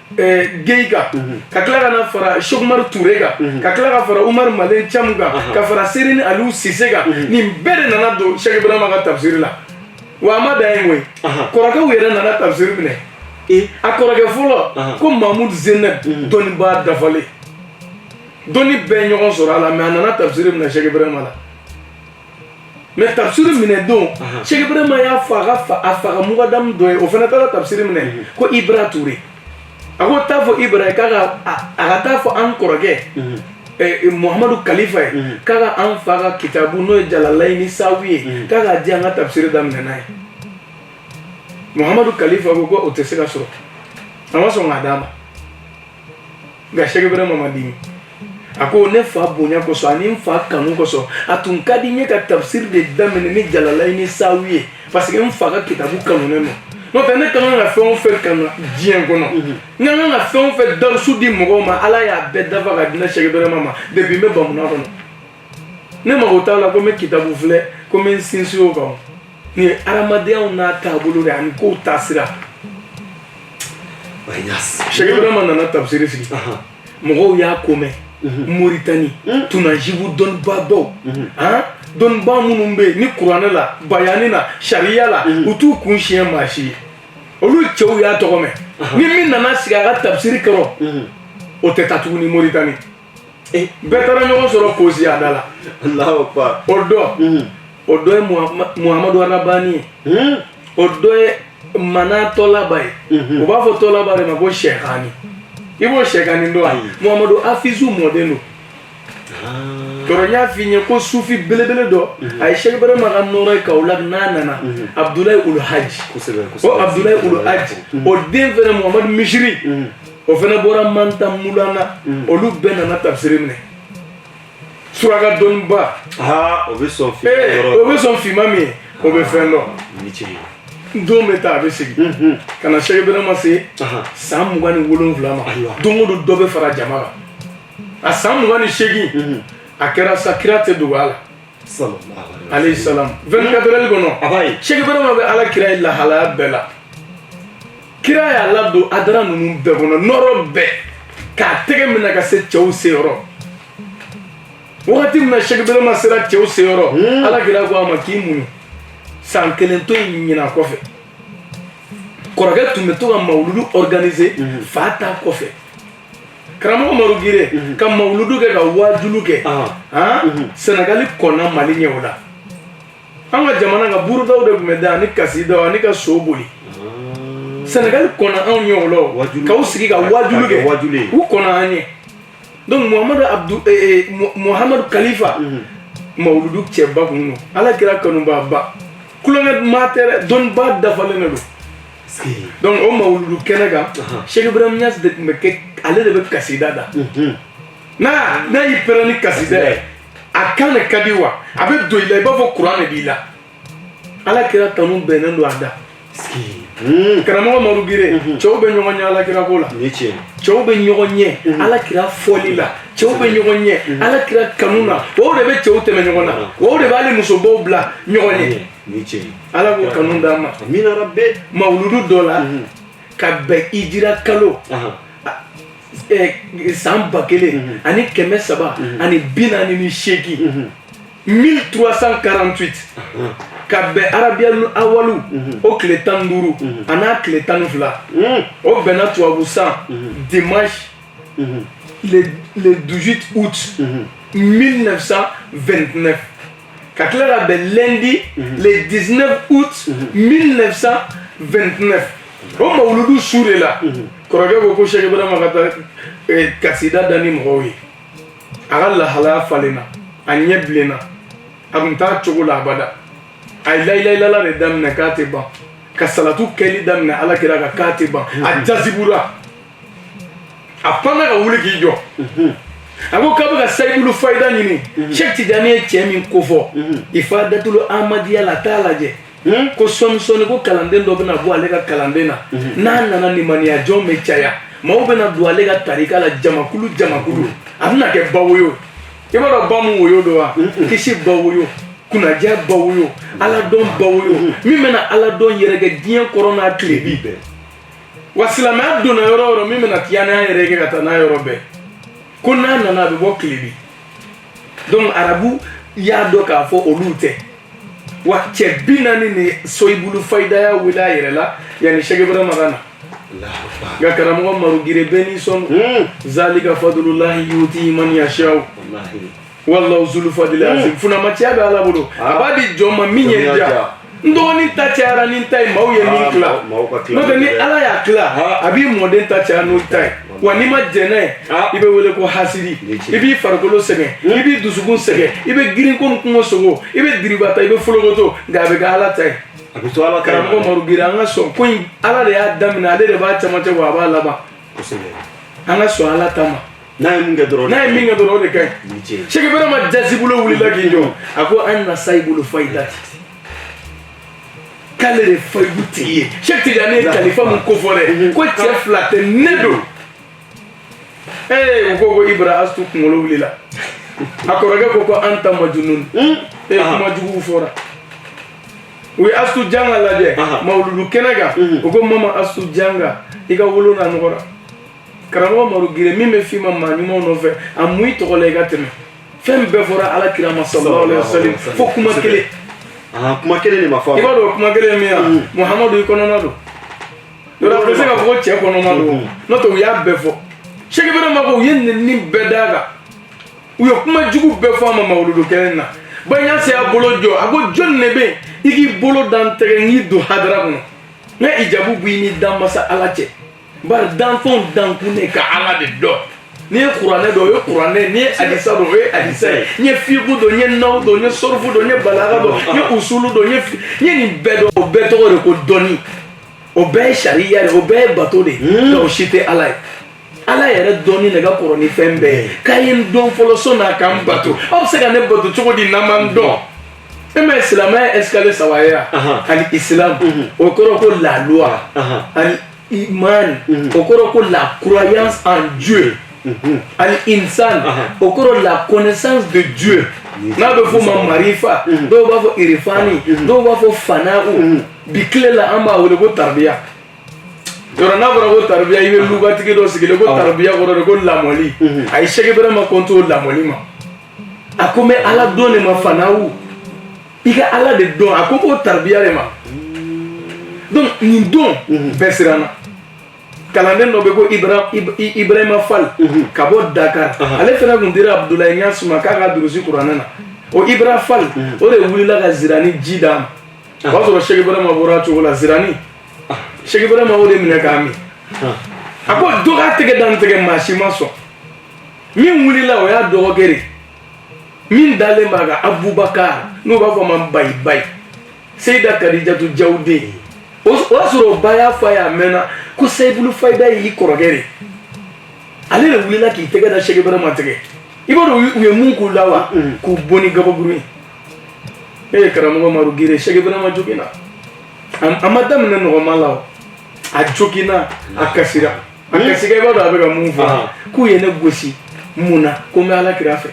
geyi kan ka tila ka na fara sɛki umaru ture kan ka tila ka fara umaru male camu kan ka fara serini aliu sise kan nin bɛɛ de nana don sɛki ibrahima ka tafsiri la wa a ma dan yen koyi kɔrɔkɛw yɛrɛ nana tafsiri minɛ a kɔrɔkɛ fɔlɔ ko mamudu zenɛb dɔnnibaa dafalen dɔnni bɛɛ ɲɔgɔn sɔrɔ a la mais a nana tafsiri minɛ sɛki ibrahima la mais tafsiri minɛ don sɛki ibrahima y'a fɔ a ka fa a fa ka mukadamu dɔ ye o fana taara tafsiri minɛ mhm. ko ibra ture a ko t'a fɔ ibra ye k'a ka a ka taa fɔ an kɔrɔkɛ mhm. eh, eh, muhamadu kalifa ye mhm. k'a ka an fa ka kitabu n'o ye jalalayini sawi ye k'a k'a di an ka tafsiri daminɛ n'a ye muhamadu kalifa ko ko o tɛ se ka sɔrɔ a ma sɔn k'a d'a ma nka sɛki ibrahima ma dimi a ko ne fa bonya kosɔn ani n fa kanu kosɔn a tun ka di n ye ka tafsiri de daminɛ ni jalalayini sawi ye parce que n fa ka kitabu kanunen don n'o tɛ ne ka kan ka fɛn o fɛn kalan diɲɛ kɔnɔ n ka kan ka fɛn o fɛn darisu di mɔgɔw ma ala y'a bɛɛ dafa ka di ne sɛki ibrahima ma depuis n bɛ bamuna kɔnɔ ne mago t'a la ko n bɛ kitabu filɛ ko n bɛ n sinsin o kan nin ye adamadenyaw n'a taabolo de ani kow taasira sɛki ibrahima nana tafsiri sigi mɔgɔw y'a ko mɛn moritani tunajibu dɔnnibabaw dɔnniba minnu bɛ yen ni kuranɛ la bayani na sariya la u t'u kun siɲɛ maa si ye olu cɛw y'a tɔgɔ mɛn ni min nana sigi a ka tafsiri kɔrɔ o tɛ taa tuguni moritani eh, bɛɛ taara ɲɔgɔn sɔrɔ kozi a da la o dɔ mhm. o dɔ ye muhamadu arabani ye mhm. o dɔ ye mana tɔlaba ye mhm. u b'a fɔ tɔlaba de ma ko sɛkani i b'o sɛkani dɔn a muhamadu afizu mɔden don tɔrɔ ah. n y'a f'i ye ko sufi belebele dɔ mhm. a ye sɛki ibrahima ka nɔrɔ ye kaolack n'a nana mhm. abudulayi olu haji o abudulayi olu haji o den fɛnɛ muhamadu misiri o fana bɔra manta mulana olu bɛɛ nana tafsiri minɛ suraka dɔnniba o bɛ sɔn finma yɔrɔ o bɛ sɔn finma min ye o bɛ fɛn dɔn ni cɛ ye don bɛ taa a bɛ sigi ka na sɛki ibrahima se san mugan ni wolonwula ma don o don dɔ bɛ fara jama kan a san mugan ni seegin a kɛra sa kira tɛ dogo a la alayhi salam 24 heures kɔnɔ a b'a ye sɛki ibrahima bɛ ala kira ye lahalaya bɛɛ la kira y'a ladon adara ninnu bɛɛ kɔnɔ nɔrɔ bɛɛ k'a tɛgɛ minɛ ka se cɛw seyɔrɔ wagati min na sɛki ibrahima sera cɛw seyɔrɔ hmm. ala kira ko a ma k'i muɲu san kelen to in ɲina kɔfɛ kɔrɔkɛ tun bɛ to ka mawuludu organise hmm. fa taa kɔfɛ karamɔgɔ maru gire hmm. ka mawuludu kɛ ka waajulu kɛ ah. ah? sɛnɛgali kɔnna mali ɲɛ o la an ka jamana ka burudaw de tun bɛ da ani kasidaw ani ka so boli sɛnɛgali kɔnna anw ɲɛ o la k'aw sigi ka wajulu kɛ u kɔnna an ɲɛ donc muhamadu abdu eh, eh, muhamadu kalifa mhm. mawuludu cɛba tun don ala kira kanubaaba tulonkɛ maa tɛ dɛ dɔnniba dafalen de don donc o mawuludu kɛnɛ kan sɛki ibrahim ɲasi de tun bɛ kɛ ale de bɛ kasida da mhm. n'a n'a y'i pɛrɛn ni kasida ye a kan de ka di wa a bɛ don i la i b'a fɔ kuran de b'i la ala kira tanu bɛnnen don a da hmm. karamɔgɔ madu gire hmm. cɛw bɛ ɲɔgɔn ɲɛ ala kira ko la cɛw bɛ ɲɔgɔn ɲɛ hmm. ala kira fɔli la cɛw bɛ ɲɔgɔn ɲɛ ala kira kanu na o de bɛ cɛw tɛmɛ ɲɔgɔn na o de bɛ hali musobaw bila ɲɔgɔn ɲɛ ala k'o kanu d'an ma mawuludu dɔ la ka bɛn hijira kalo san ba kelen ani kɛmɛ saba ani bi naani ni seegin 1348 ka bɛn arabiya awalu o tile tan ni duuru a n'a tile tan ni fila o bɛnna tubabu san dimanche le 18 août 1929 ka tila ka bɛn lundi mhm. le 19 août 1929 mhm. o mawuludu su de la mhm. kɔrɔkɛ ko ko sɛki barama ka taa eh, kasida da ni mɔgɔw ye a ka lahalaya falenna a ɲɛ bilenna a tun t'a cogo la abada a ye layilayilala de daminɛ k'a tɛ ban ka salatu kɛli daminɛ ala kira kan k'a tɛ ban a jazibura a panna ka wuli k'i jɔ a ko k'a bɛ ka sayibulu fayida ɲini sɛk tijani ye cɛ min kofɔ ifadatulu amadiya la t'a lajɛ ko sɔni sɔni ko kalanden dɔ bɛna bɔ ale ka kalandenw na n'a nana limaniya jɔn bɛ caya maaw bɛna don ale ka tarika la jamakulu jamakulu a bɛna kɛ bawoyo i b'a dɔn ba mun woyo don wa kisi bawoyo kunnaja bawoyo aladɔn bawoyo min bɛna aladɔn yɛrɛkɛ diɲɛ kɔrɔn n'a tilebin bɛɛ wa silamɛya donna yɔrɔ o yɔrɔ min bɛna tijaniya yɛrɛkɛ ka taa n'a yɔrɔ bɛɛ ko n'a nana a bɛ bɔ tilebin donc arabu y'a dɔn k'a fɔ olu tɛ wa cɛ bi naani ye sayibulu fayidaya wele a yɛrɛ la yanni sɛki ibrahima ka na nka karamɔgɔ maru gire bɛɛ n'i sɔn zalika fadululahi yuti man yashaw wallahu zul fadli hmm. azim fusamancɛya bɛ ala bolo ah. a b'a di jɔn ma min ye diya n dɔgɔnin ta cayara ni n ta ye maaw ye min ah, tila n'o tɛ ni ala y'a tila ah. a b'i mɔden ta caya n'o ta ye wa n'i ma jɛn n'a ye i bɛ wele ko hasidi i b'i farikolo sɛgɛn hmm. i b'i dusukun sɛgɛn i bɛ girin ko ni kungo sogo i bɛ diriba ta i bɛ folokoto nka a bɛ kɛ ala ta ye karamɔgɔ madu gire an ka sɔn ko in ala de y'a daminɛ ale de b'a camancɛ wa a b'a laban an ka sɔn ala ta ma n'a ye min kɛ dɔrɔn o de ka ɲi sɛki ibrahima jasi bolo wulila k'i jɔ a ko ana sahibul fayida k'ale de fayida tigi ye sɛki tijani ye kalifa min kofɔ dɛ ko cɛ fila tɛ ne don ee u ko ko ibra astu kunkolo wulila a kɔrɔkɛ ko ko anta majunun hmm? ee kuma juguw fɔra u ye astu janga lajɛ mawuludu kɛnɛ kan hmm. u ko mama astu janga i ka wolo na nɔgɔra karamɔgɔ madu gire min bɛ f'i ma maa ɲumanw nɔfɛ a mu i tɔgɔ la i ka tɛmɛ fɛn bɛɛ fɔra ala kira ma sallallahu alaihi wasallam fo kuma kelen kuma kelen de ma fɔ i b'a dɔn kuma kelen min ya mm. muhamadu i kɔnɔma don yɔrɔ a bɛ se ka fɔ ko cɛ kɔnɔma don mm-hmm. n'o tɛ u y'a bɛɛ fɔ sɛki ibrahima ko u ye nɛni bɛɛ d'a kan u ye kuma jugu bɛɛ fɔ a ma mawuludu kelen na bay ɲas y'a bolo jɔ a ko jɔn de bɛ yen i k'i bolo da n tɛgɛ n'i don hadara kɔnɔ n ka hijabu b'i ni danmasa ala cɛ bari danfɛnw dankun ye ka ala de dɔn n'i ye kuranɛ dɔn o ye kuranɛ n'i ye hadisa dɔn o ye hadisa ye i ye fiku dɔn i ye nahu dɔn i ye sɔrɔfu dɔn i ye balaga dɔn i ye usulu dɔn i ye i ye nin bɛɛ dɔn o bɛɛ tɔgɔ de ko dɔnni o bɛɛ ye sariya de o bɛɛ ye bato de nka o si tɛ ala ye ala yɛrɛ dɔnni de ka kɔrɔ ni fɛn bɛɛ ye k'a ye n dɔn fɔlɔ sɔnni a ka n bato aw bɛ se ka ne bato cogo di n'a ma n dɔn. e m'a ye silamɛya escalier saba ye yan al islam o kɔrɔ ko la loi al iman o kɔrɔ ko la croyance en dieu al ihsan o kɔrɔ la connaissance de dieu n'a bɛ f'o ma marifa dɔw b'a fɔ irifani dɔw b'a fɔ fana'u bi tile la an b'a wele ko tarabiya yɔrɔ n'a fɔra ko tarabiya i bɛ lugatigi dɔ sigilen ko tarabiya kɔrɔ de ko lamɔli ayi sɛki ibrahima kan t'o lamɔli ma a kan bɛ ala dɔn de ma fana'u i ka ala de dɔn a kan b'o tarabiya de ma donc nin don mhm. bɛɛ siranna kalanden dɔ bɛ ko ibrahima fal mhm. ka bɔ dakar ale fana tun dira abudulayi ɲas ma k'a ka durusi kuranɛ na o ibra fal mhm. o de wulila ka zirani ji d'a ma o b'a sɔrɔ sɛki ibrahima bɔra cogo la zirani sɛki ibrahima o de minɛ k'a min a ko dɔ k'a tɛgɛ da n tɛgɛ maa si ma sɔn min wulila o y'a dɔgɔkɛ de min dalen b'a kan abubakar n'o b'a fɔ ma bayi bayi seyida kadijatu jaw den ye o y'a sɔrɔ o ba y'a fɔ a ye a mɛnna ko sayibulu fayida ye i kɔrɔkɛ de ale de wulila k'i tɛgɛ da sɛki bɛrɛma tɛgɛ i b'a dɔn u ye mun k'u la wa k'u bon ni gabakuru ye ee karamɔgɔ maru gire sɛki bɛrɛma joginna a ma daminɛ nɔgɔma la o a joginna a kasira a kasira i b'a dɔn a bɛ ka mun fɔ Ahan. k'u ye ne gosi mun na ko n bɛ ala kira fɛ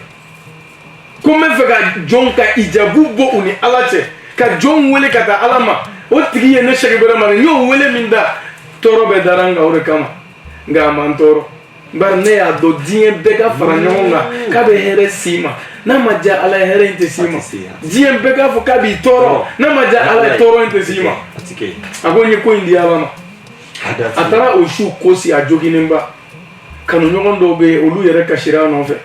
ko n bɛ fɛ ka jɔnw ka hijabu bɔ u ni ala cɛ ka jɔnw wele ka taa ala ma o tigi ye ne sɛki bɛrɛma n y'o wele min da tɔɔrɔ bɛɛ dara n kan o de kama nka a ma n tɔɔrɔ bari ne y'a dɔn diɲɛ bɛɛ ka fara ɲɔgɔn kan k'a bɛ hɛrɛ s'i ma n'a ma diya ala ye hɛrɛ in tɛ s'i ma A tɛ se, a tɛ diɲɛ bɛɛ k'a fɔ k'a b'i tɔɔrɔ n'a ma diya ala ye tɔɔrɔ in tɛ s'i ma a ti kɛ yen. a ko n ye ko in di ala ma a taara o su kosi a joginenba kanuɲɔgɔn dɔw bɛ olu yɛrɛ kasira a nɔfɛ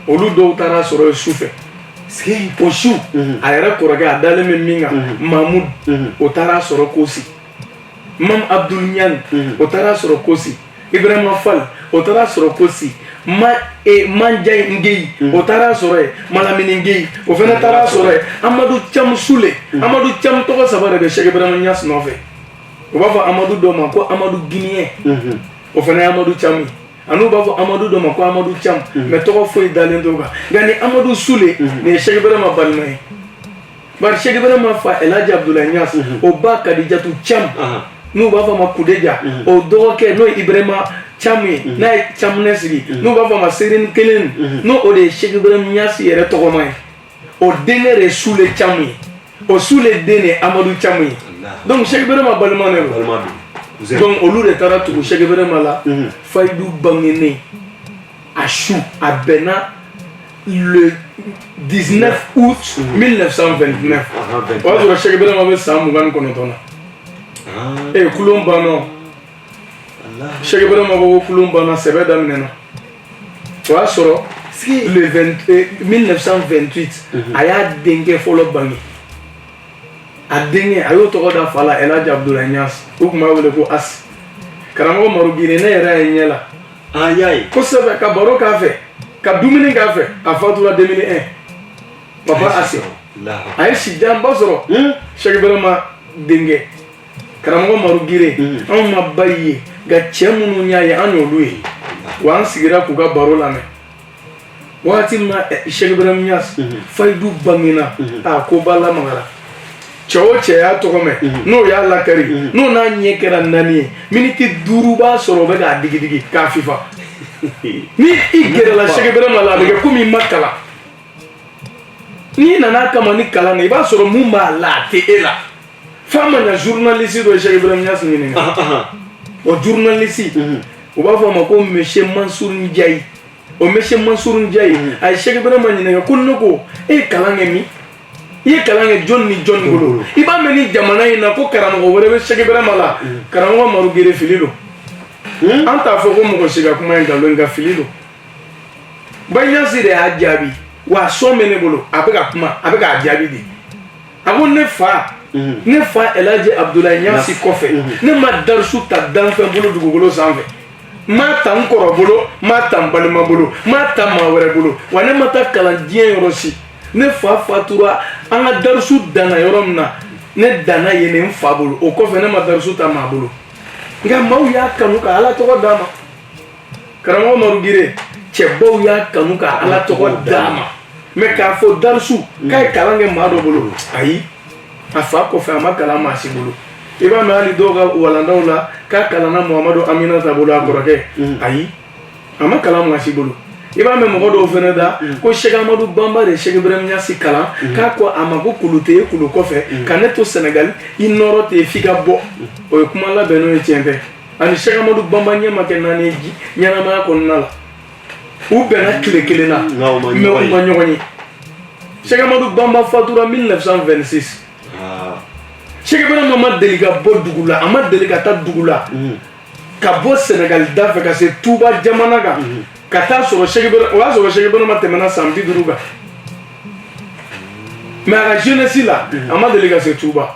olu dɔw taara sɔrɔ yen su fɛ o su mhm. a yɛrɛ kɔrɔkɛ a dalen bɛ min kan mhm. mamudu mhm. o taara sɔrɔ kosi mam abudul ɲani o taara sɔrɔ kosi ibrahima fal o taara sɔrɔ kosi ma e, manja ngeyi o taara sɔrɔ yen malamini ngeyi o fana taara sɔrɔ yen amadu camu sule amadu camu tɔgɔ saba de bɛ sɛki ibrahima ɲasi nɔfɛ u b'a fɔ amadu dɔ ma ko amadu guinéen mhm. o fana ye amadu camu an'u b'a fɔ amadu dɔ ma ko amadu cam mhm. mais tɔgɔ foyi dalen t'o kan nka ni amadu sule mhm. nin ye sɛki bɛrɛma balima ye bari sɛki bɛrɛma fa elaji abudulayi ɲas o ba kadijatu cam n'u b'a fɔ a ma kudeja o dɔgɔkɛ n'o ye ibrahima camu ye n'a ye camunɛ sigi n'u b'a fɔ a ma serin kelen n'o o de ye sɛki bɛrɛma ɲas yɛrɛ tɔgɔma ye o denkɛ de ye sule camu ye o sule den de amadu camu ye donc sɛki bɛrɛma balima ne don donc olu de taara tugu sɛki bɛrɛma la mhm. fayidu bangenen a su a bɛnna le 19 août 1929 o y'a sɔrɔ sɛki bɛrɛma bɛ san mugan ni kɔnɔntɔn na ee tulon banna sɛki bɛrɛma ko ko tulon banna sɛbɛ daminɛna o y'a sɔrɔ le 1928 a y'a denkɛ fɔlɔ bange a denkɛ a y'o tɔgɔ d'a fa la El Hadj Abdoulaye Niass u tun b'a wele ko Asi karamɔgɔ Maru Gire ne yɛrɛ ye ɲɛ la a y'a ye kosɛbɛ ka baro k'a fɛ ka dumuni k'a fɛ a fatura 2001 papa Asi a ye si janba sɔrɔ Sɛki Bɛrɛma denkɛ karamɔgɔ maru gire mm. anw ma bayi ye nka cɛ minnu y'a ye an y'olu ye wa an sigira k'u ka baro lamɛn waati min na sɛki ibrahim ɲasi fayidu bangena a ko ba lamagara cɛ o cɛ y'a tɔgɔ mɛn n'o y'a lakari n'o n'a ɲɛ kɛra naani ye miniti duuru b'a sɔrɔ o bɛ k'a digidigi k'a fifa ni i gɛrɛla sɛki ibrahim la a bɛ kɛ komi i ma kalan n'i nana kama ni kalan na i b'a sɔrɔ mun b'a la a tɛ e la f'a ma na journaliste dɔ ye Cheikh Ibrahim Niass ɲininka o journaliste u b'a fɔ a ma ko monsieur Mansour Ndiaye o monsieur Mansour Ndiaye a ye Cheikh Ibrahim ɲininka ko ne ko e ye kalan kɛ min i ye kalan kɛ jɔni ni jɔni bolo i b'a mɛn ni jamana in na ko karamɔgɔ wɛrɛ bɛ Cheikh Ibrahim la karamɔgɔ Maru Gire fili don an t'a fɔ ko mɔgɔ si ka kuma ye nkalon ye nka fili don bayi ɲasi de y'a jaabi wa a son bɛ ne bolo a bɛ ka kuma a bɛ k'a jaabi de a ko ne fa mhm. ne fa elaji abudulayi ɲasi kɔfɛ mhm. ne ma darisu ta danfɛn bolo dugukolo sanfɛ n m'a ta n kɔrɔ bolo n m'a ta n balima bolo n m'a ta maa wɛrɛ bolo wa ne ma taa kalan diɲɛ yɔrɔ si ne fa fatura an ka darisu danna yɔrɔ min na ne danna yen ne n fa bolo o kɔfɛ ne ma darisu ta maa bolo nka maaw y'a kanu ka ala tɔgɔ d'a ma karamɔgɔ maru gire cɛbaw y'a kanu ka ala tɔgɔ d'a ma mais k'a fɔ darisu k'a ye kalan kɛ maa dɔ bolo ayi a fa kɔfɛ a ma kalan maa si bolo i b'a mɛn hali dɔw ka walandaw la k'a kalanna muhamadu aminata bolo a kɔrɔkɛ ayi a ma kalan maa si bolo i b'a mɛn mɔgɔ dɔw fɛnɛ da ko sɛk amadu banba de sɛk ibrahim ɲasi kalan k'a ko a ma ko kulu tɛ ye kulu kɔfɛ ka ne to sɛnɛgali i nɔrɔ tɛ ye f'i ka bɔ o ye kuma labɛn n'o ye tiɲɛ tɛ ani sɛk amadu banba ɲɛ ma kɛ naani ye ɲɛnamaya kɔnɔna la u bɛnna tile kelen na mais u ma ɲɔgɔn ye sɛk amadu banba fatura 1926 sɛk ibrahima ma deli ka bɔ dugu la a ma deli ka taa dugu la mm. ka bɔ sɛnɛgali da fɛ ka se tuba jamana kan mm. ka taa sɔrɔ sɛk ibrahim o y'a sɔrɔ sɛk ibrahima tɛmɛna san bi duuru kan mais a ka jeunesse la mm. a ma deli ka se tuba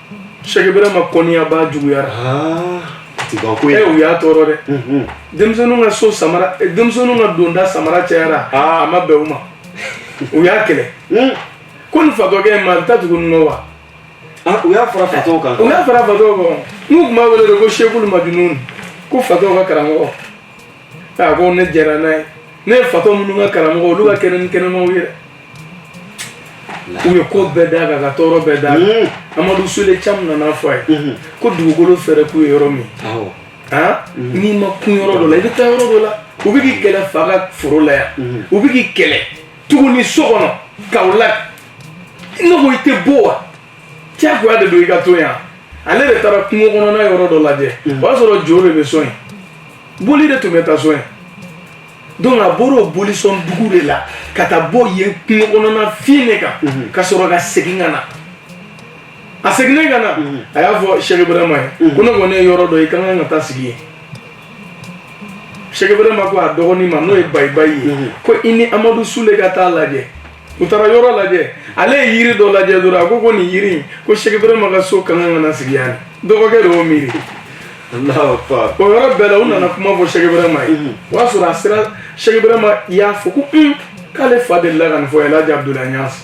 sɛk ibrahima kɔniyabaa juguyara koyi u y'a tɔɔrɔ dɛ denmisɛnninw ka so samara eh, denmisɛnninw ka donda samara cayara a ma bɛn u ma u y'a kɛlɛ hmm. ko nin fatɔkɛ ye maa a bɛ taa tugu nin kɔ wa ah, u y'a fara fatɔw kan u y'a fara fatɔw kan n'u tun b'a wele de ko sekulu majunun ko fatɔw ka karamɔgɔ a ko ne jɛra n'a ye ne ye fatɔ minnu ka karamɔgɔ olu ka kɛnɛ ni kɛnɛmaw ye dɛ u ye ko bɛɛ d'a kan ka tɔɔrɔ bɛɛ d'a kan mm. amadu sule camu nana fɔ a ye mm-hmm. ko dugukolo fɛrɛ k'u ye yɔrɔ min mm-hmm. n'i ma kun yɔrɔ dɔ la i bɛ taa yɔrɔ dɔ la u bɛ k'i kɛlɛ fa ka foro la yan mm-hmm. u bɛ k'i kɛlɛ tuguni so kɔnɔ kaolack ne ko i tɛ bɔ wa diyagoya de don i ka to yan ale de taara kungo kɔnɔna yɔrɔ dɔ lajɛ o y'a sɔrɔ jo de bɛ sɔn yen boli de tun bɛ taa sɔn yen donc a bɔra o bolisɔn dugu de la ka taa bɔ yen kungo kɔnɔna fiɲɛ de kan mhm. ka sɔrɔ ka segin ka na a seginnen ka na mhm. a y'a fɔ sɛki ibrahima ye mhm. ko ne kɔni ye yɔrɔ dɔ ye i ka kan ka taa sigi yen sɛki ibrahima ko a dɔgɔnin ma n'o ye bayibayi ye ko i ni amadu sule ka taa lajɛ u taara yɔrɔ lajɛ ale ye yiri dɔ lajɛ dɔrɔn a ko ko nin yiri in ko sɛki ibrahima ka so ka kan ka na sigi yan dɔgɔkɛ de y'o miiri o yɔrɔ bɛɛ la u nana kuma fɔ sɛki ibrahima ye o y'a sɔrɔ a sera sɛki ibrahima y'a fɔ ko un k'ale fa delila ka nin fɔ ɛlihaji abudulayi ɲasi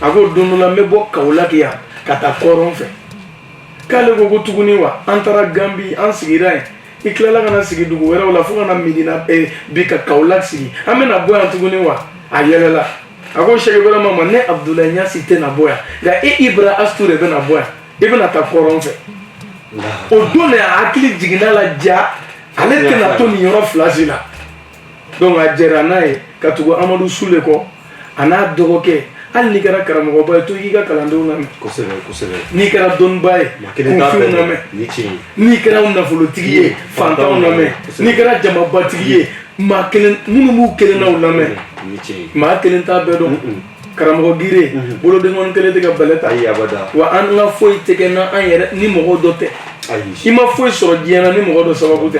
a ko don dɔ la n bɛ bɔ kawulaki yan ka taa kɔrɔn fɛ k'ale ko ko tuguni wa an taara ganbi an sigira yen i tilala ka na sigi dugu wɛrɛw la fo ka na midina eh, bi ka kawulaki sigi an bɛna bɔ yan tuguni wa a yɛlɛla a ko sɛki ibrahima ma ne abudulayi ɲasi tɛna bɔ yan nka e ibra astu de bɛna bɔ yan i bɛna taa kɔrɔn fɛ o don de a hakili jiginna la ja ale tɛna to nin yɔrɔ fila si la donc a jɛra n'a ye ka tugu amadu sule kɔ a n'a dɔgɔkɛ hali n'i kɛra karamɔgɔba ye to k'i ka kalandenw lamɛn kosɛbɛ kosɛbɛ n'i kɛra dɔnniba ye kunfinw lamɛn n'i kɛra nafolotigi ye fantanw lamɛn n'i kɛra jamabatigi ye maa kelen minnu b'u kelennaw lamɛn maa kelen t'a bɛɛ dɔn karamɔgɔ gire mhm. bolodenkɔni kelen tɛ ka bɛlɛ ta wa an ka foyi tɛ kɛ n'an yɛrɛ ni mɔgɔ dɔ tɛ i ma foyi sɔrɔ diɲɛ na ni mɔgɔ dɔ sababu tɛ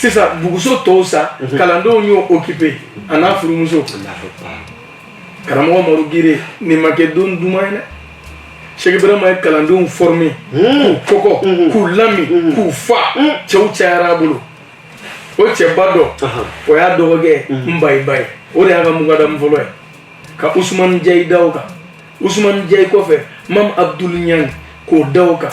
sisan buguso tɔw sa mhm. kalandenw y'o occupé a n'a furumuso karamɔgɔ maru gire nin ma kɛ don duman ye dɛ sɛki ibrahima ye kalandenw formé mhm. k'u koko mhm. k'u lami k'u fa cɛw cayara a bolo o cɛba dɔ o y'a dɔgɔkɛ n bayibayi o de y'a ka mukadamu fɔlɔ ye ka usumani jayi da o kan usumani jayi kɔfɛ mamu abudulu ɲangi k'o da o kan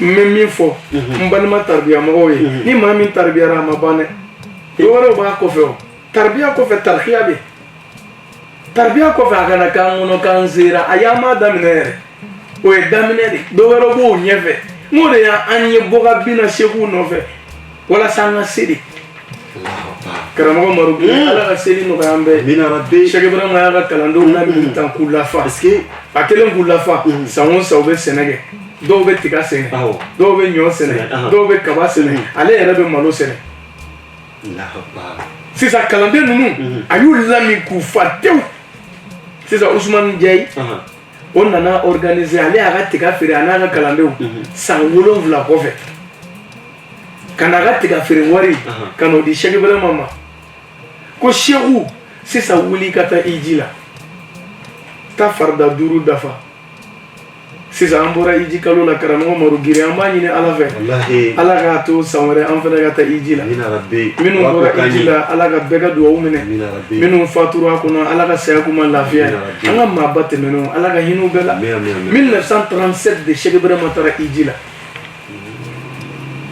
n bɛ min fɔ n balima tarabiya mɔgɔw ye ni maa min taribiyara a ma ban dɛ dɔ wɛrɛw b'a kɔfɛ o tarabiya kɔfɛ tarakiya bɛ tarabiya kɔfɛ a kana k'an kɔnɔ k'an sera ayi an m'a daminɛ yɛrɛ o ye daminɛ de dɔ wɛrɛ b'o ɲɛfɛ n'o de y'an ye bɔ ka bin an seku nɔfɛ walasa an ka se dɛ karamɔgɔ maru hmm. ala ka seli nɔgɔya an bɛɛ sɛki ibrahima y'a ka kalandenw hmm. labɛn tan k'u lafa a kelen k'u lafa hmm. san o san u bɛ sɛnɛ kɛ dɔw bɛ tiga sɛnɛ dɔw bɛ ɲɔ sɛnɛ dɔw bɛ kaba sɛnɛ ale yɛrɛ bɛ malo sɛnɛ sisan kalanden ninnu a y'u lami k'u fa tewu sisan usumani jayi o nana organiser ale y'a ka tiga feere a n'a ka kalandenw san wolonwula kɔfɛ ka na a ka tiga feere wari ka n'o di Cheikh Ibrahima ma ko seku sisan wuli ka taa hiji la taa farida duuru dafa sisan an bɔra hiji kalo la karamɔgɔ Maru Gire an b'a ɲini ala fɛ ala k'a to san wɛrɛ an fana ka taa hiji la minnu bɔra hiji la ala ka bɛɛ ka dugawu minɛ minnu fatura kɔnɔ ala ka saya kuma lafiya an ka maaba tɛmɛnenw ala ka hinɛ u bɛɛ la 1937 de Cheikh Ibrahima taara hiji la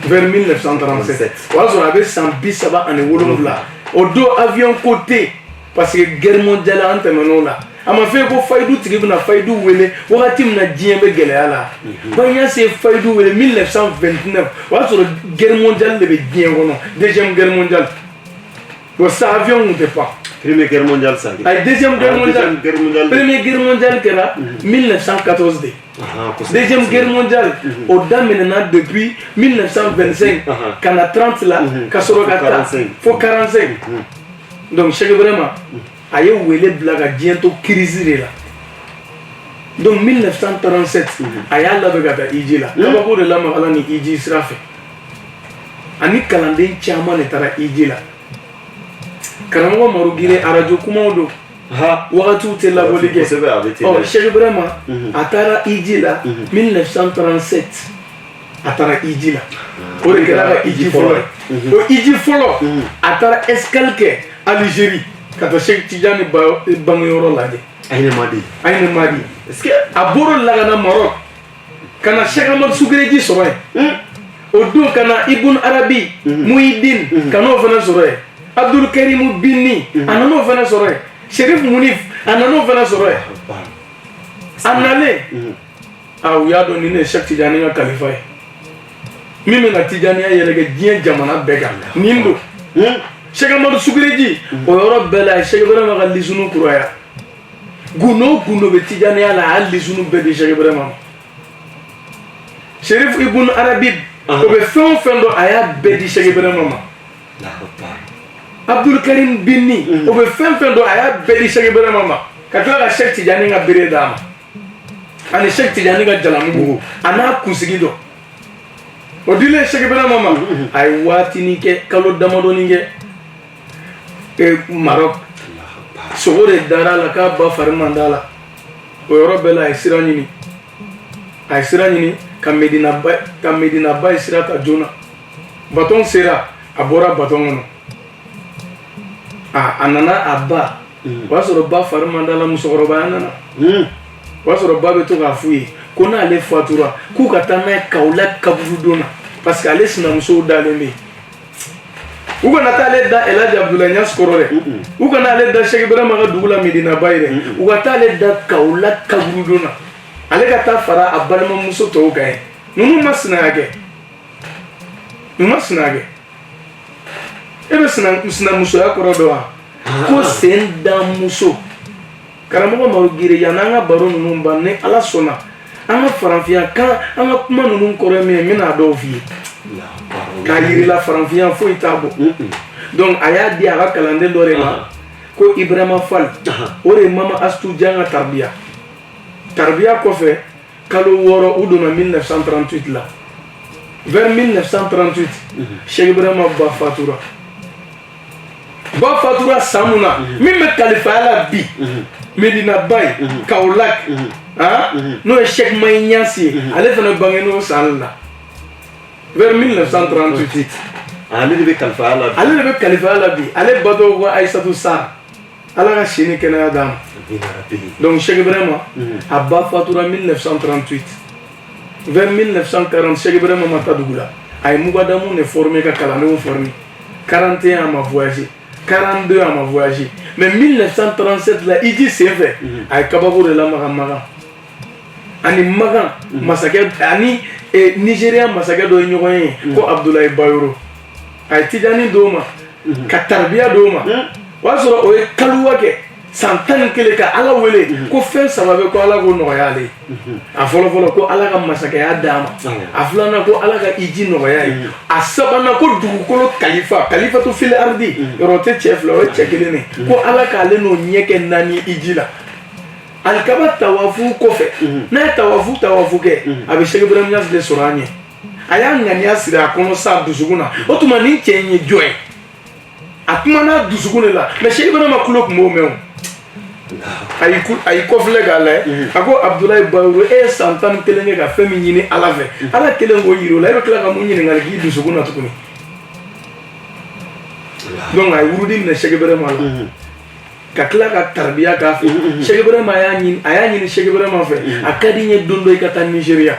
vers 1937 o y'a sɔrɔ a bɛ san bi saba ani wolonwula o don avion ko tɛ yen parce que guerre mondiale an tɛmɛn'o la a ma fɛn ko fayidu tigi bɛna fayidu wele wagati min na diɲɛ bɛ gɛlɛya la Baye Niasse ye fayidu wele 1929 o y'a sɔrɔ guerre mondiale de bɛ diɲɛ kɔnɔ deuxième guerre mondiale bon sa avion tun tɛ pan Première guerre mondiale, ça. Ah, deuxième guerre ah, mondiale. Deuxième guerre mondiale. Première guerre mondiale kɛra 1914. Deuxième guerre mondiale, o daminɛna depuis 1925 ka na 30 la ka sɔrɔ ka taa fo 45 donc Cheikh Ibrahima a ye wele bila ka diɲɛ to crise de la donc 1937 a y'a labɛn ka taa hiji la kabako de lamagala nin hiji sira fɛ ani kalanden caman de taara hiji la karamɔgɔ Maru Gire arajo kumaw don ha wagatiw tɛ labɔli kɛ kosɛbɛ a bɛ teliya ɔ Cheikh Ibrahima a taara hiji la 1937 a taara hiji la o de kɛra a ka hiji fɔlɔ ye o hiji fɔlɔ a taara escale kɛ Algérie ka taa Cheikh Tidiane bangeyɔrɔ lajɛ Ayinamadi Ayinamadi a bɔr'o la ka na Maroc ka na Cheikh Ahmad Sukayriji sɔrɔ yen hmm. o don ka na ibun arabi hmm. muhidin hmm. ka n'o fana sɔrɔ yen abdul karimu binni a nan'o fana sɔrɔ yen sherif munif a nan'o fana sɔrɔ yen a nalen a u y'a dɔn nin de ye sɛk tijani ka kalifa ye min bɛna tijaniya yɛrɛkɛ diɲɛ jamana bɛɛ kan nin don Cheikh Ahmad Sukayriji o yɔrɔ bɛɛ la Cheikh Ibrahima ka lisunu kuraya gundo o gundo bɛ tijaniya la a y'a lisunu bɛɛ di Cheikh Ibrahima ma sherif ibun arabi o bɛ fɛn o fɛn dɔn a y'a bɛɛ di Cheikh Ibrahima ma abdul karim binni o bɛ fɛn fɛn dɔn a y'a bɛɛ di Cheikh Ibrahima ma ka tila ka sɛk tijani ka bere d'a ma ani sɛk tijani ka jalamugu an'a kunsigi dɔ o dilen Cheikh Ibrahima ma a ye waatinin kɛ kalo damadɔnin kɛ e Maroc sogo de dar'a la k'a ba fari man d'a la o yɔrɔ bɛɛ la a ye sira ɲini a ye sira ɲini ka medinaba ka Medina Baye sira ta joona batɔn sera a bɔra batɔn kɔnɔ a a nana a ba o y'a sɔrɔ ba fari man d'a la musokɔrɔbaya nana o y'a sɔrɔ ba bɛ to k'a f'u ye ko n'ale fatura k'u ka taa n'a ye Kaolack kaburudon na parce que ale sinamusow dalen bɛ yen u kana t'ale da elaji abudulayi ɲas kɔrɔ dɛ u kana ale da Cheikh Ibrahima ka dugu la Medina Baye dɛ u ka t'ale da Kaolack kaburudon na ale ka taa fara a balimamuso tɔw kan ye ninnu ma sinaya kɛ ninnu ma sinaya kɛ e bɛ sinamusoya kɔrɔ dɔn wa ko sen da muso karamɔgɔ maro gire yanni an ka baro ninnu ban ni ala sɔnna an ka farafinya kan an ka kuma ninnu kɔrɔ min ye n bɛna dɔ f'i ye k'a yir'i la farafinya foyi t'a bɔ donc a y'a di a ka kalanden dɔ de ma ko ibrahima fal o de ye mama astu janka taribiya taribiya kɔfɛ kalo wɔɔrɔ u donna 1938 la vers 1938 Cheikh Ibrahima ba fatura ba fatura san mun na min bɛ kalifaya la bi Medina Baye Kaolack n'o ye Cheikh Mahi Niasse ye ale fana bangen'o san la vers 1938 ale de bɛ kalifaya la bi ale ba tɔgɔ ko Aïssatou Sarr ala ka si ni kɛnɛya d'a ma donc Cheikh Ibrahima a ba fatura 1938 vers 1940 Cheikh Ibrahima ma taa dugu la a ye mugadamu de former ka kalandenw former 41 a ma voyager 42 a ma voyager mais 1937 la hiji sen fɛ a ye kabako de lamaga Makan ani Makan masakɛ ani Nigeria masakɛ dɔ ye ɲɔgɔn ye ko abdulayi bayoro a ye tijani d'o ma mhm. ka taribiya d'o ma mhm. o y'a sɔrɔ o ye kaluwa kɛ san tan ni kelen ka ala wele mhm. ko fɛn saba bɛ ko ala k'o nɔgɔya ale ye a fɔlɔ fɔlɔ ko ala ka masakɛya d'a ma a filanan ko ala ka hiji nɔgɔy'a ye a sabanan ko dugukolo kalifa kalifatu fil ardi o tɛ cɛ fila o ye cɛ kelen de ko ala k'ale n'o ɲɛ kɛ naani hiji la alikaba tawafu kɔfɛ n'a ye tawafu tawafu kɛ a bɛ Cheikh Ibrahima Niasse de sɔrɔ a ɲɛ a y'a ŋaniya siri a kɔnɔ sa dusukun na o tuma ni cɛ in ye jɔn ye a kuman'a dusukun de la mais Cheikh Ibrahima kulo kun b'o mɛn o a y'i a y'i kɔfilɛ k'a lajɛ mhm. a ko abudulayi bayoro e ye san tan ni kelen kɛ ka fɛn min ɲini ala fɛ mhm. ala kɛlen k'o yir'i la e bɛ tila ka mun ɲininkali k'i dusukun na tuguni donc a ye wurudi minɛ Cheikh Ibrahima la mhm. ka tila ka taribiya k'a fɛ Cheikh Ibrahima a y'a ɲini a y'a ɲini Cheikh Ibrahima fɛ a ka di n ye don dɔ i ka taa nizeriya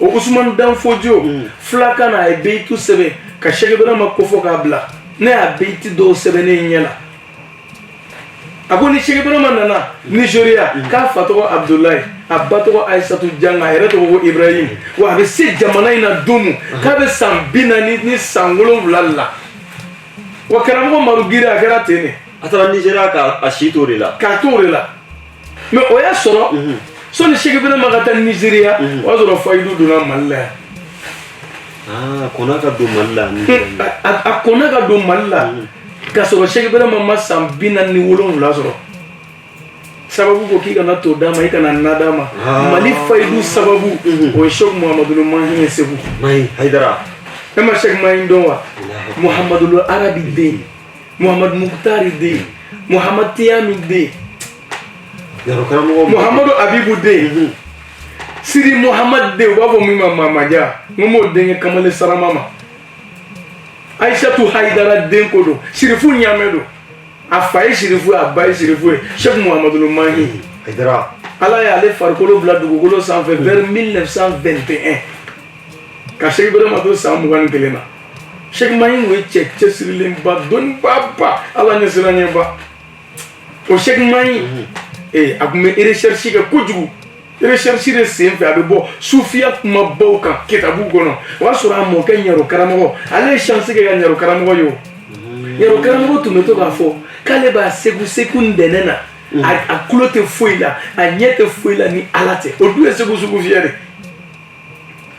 o usumani danfojo mm. fulakan na a ye beyitu sɛbɛn ka sɛki ibrahima kofɔ k'a bila ne y'a beyitu dɔw sɛbɛn ne ɲɛ la a ko ni sɛki ibrahima nana nizeriya mm. k'a fa tɔgɔ abudulayi a ba tɔgɔ ayisatu janga a yɛrɛ tɔgɔ ko ibrahim wa a bɛ se jamana in na don min mm-hmm. k'a bɛ san bi naani ni san wolonwula la wa karamɔgɔ maru giri a kɛra ten de a taara nizeriya ka a si t'o de la k'a t'o de la mɛ o y'a sɔrɔ sɔni sɛki ibrahima ka taa nizeriya o y'a sɔrɔ fayidu donna mali la yan a kɔnna ka don mali la a kɔnna ka don mali la k'a sɔrɔ sɛki ibrahima ma san bi naani ni wolonwula sɔrɔ sababu ko k'i kana to d'a ma i kana na d'a ma mali fayidu sababu o ye sɛku muhamadul mahi ye segu mahi hayidara e ma sɛku mahi dɔn wa muhamadul arabi den Muhammad Muktari den Muhammad Tiyami den Muhammadu Abibu den mhm. Siri Muhammad den u b'a fɔ min ma Mamaja n ko mɔdenkɛ kamalen sarama ma Aïssatou Haïdara den ko don sirifu ɲamɛ don a fa ye sirifu ye a ba ye sirifu ye Cheikh Muhammadul Mahi Haïdara ala y'ale farikolo bila dugukolo sanfɛ vers 1921 ka Cheikh Ibrahima to san mugan ni kelen na sɛki mahi ye cɛ cɛsirilenba dɔnbaaba ala ɲɛsiranɲɛba o sɛki mahi ee a tun bɛ eresɛrisi kɛ kojugu eresɛrisi de sen fɛ a bɛ bɔ sufiya kumabaw kan kitabu kɔnɔ o y'a sɔrɔ a mɔkɛ ɲɛro karamɔgɔ ale ye sansi kɛ ka ɲɛro karamɔgɔ ye o ɲɛro karamɔgɔ tun bɛ to k'a fɔ k'ale b'a segu segu ntɛnɛn na a tulo tɛ foyi la a ɲɛ tɛ foyi la ni ala tɛ o dun ye segu sugufiyɛ de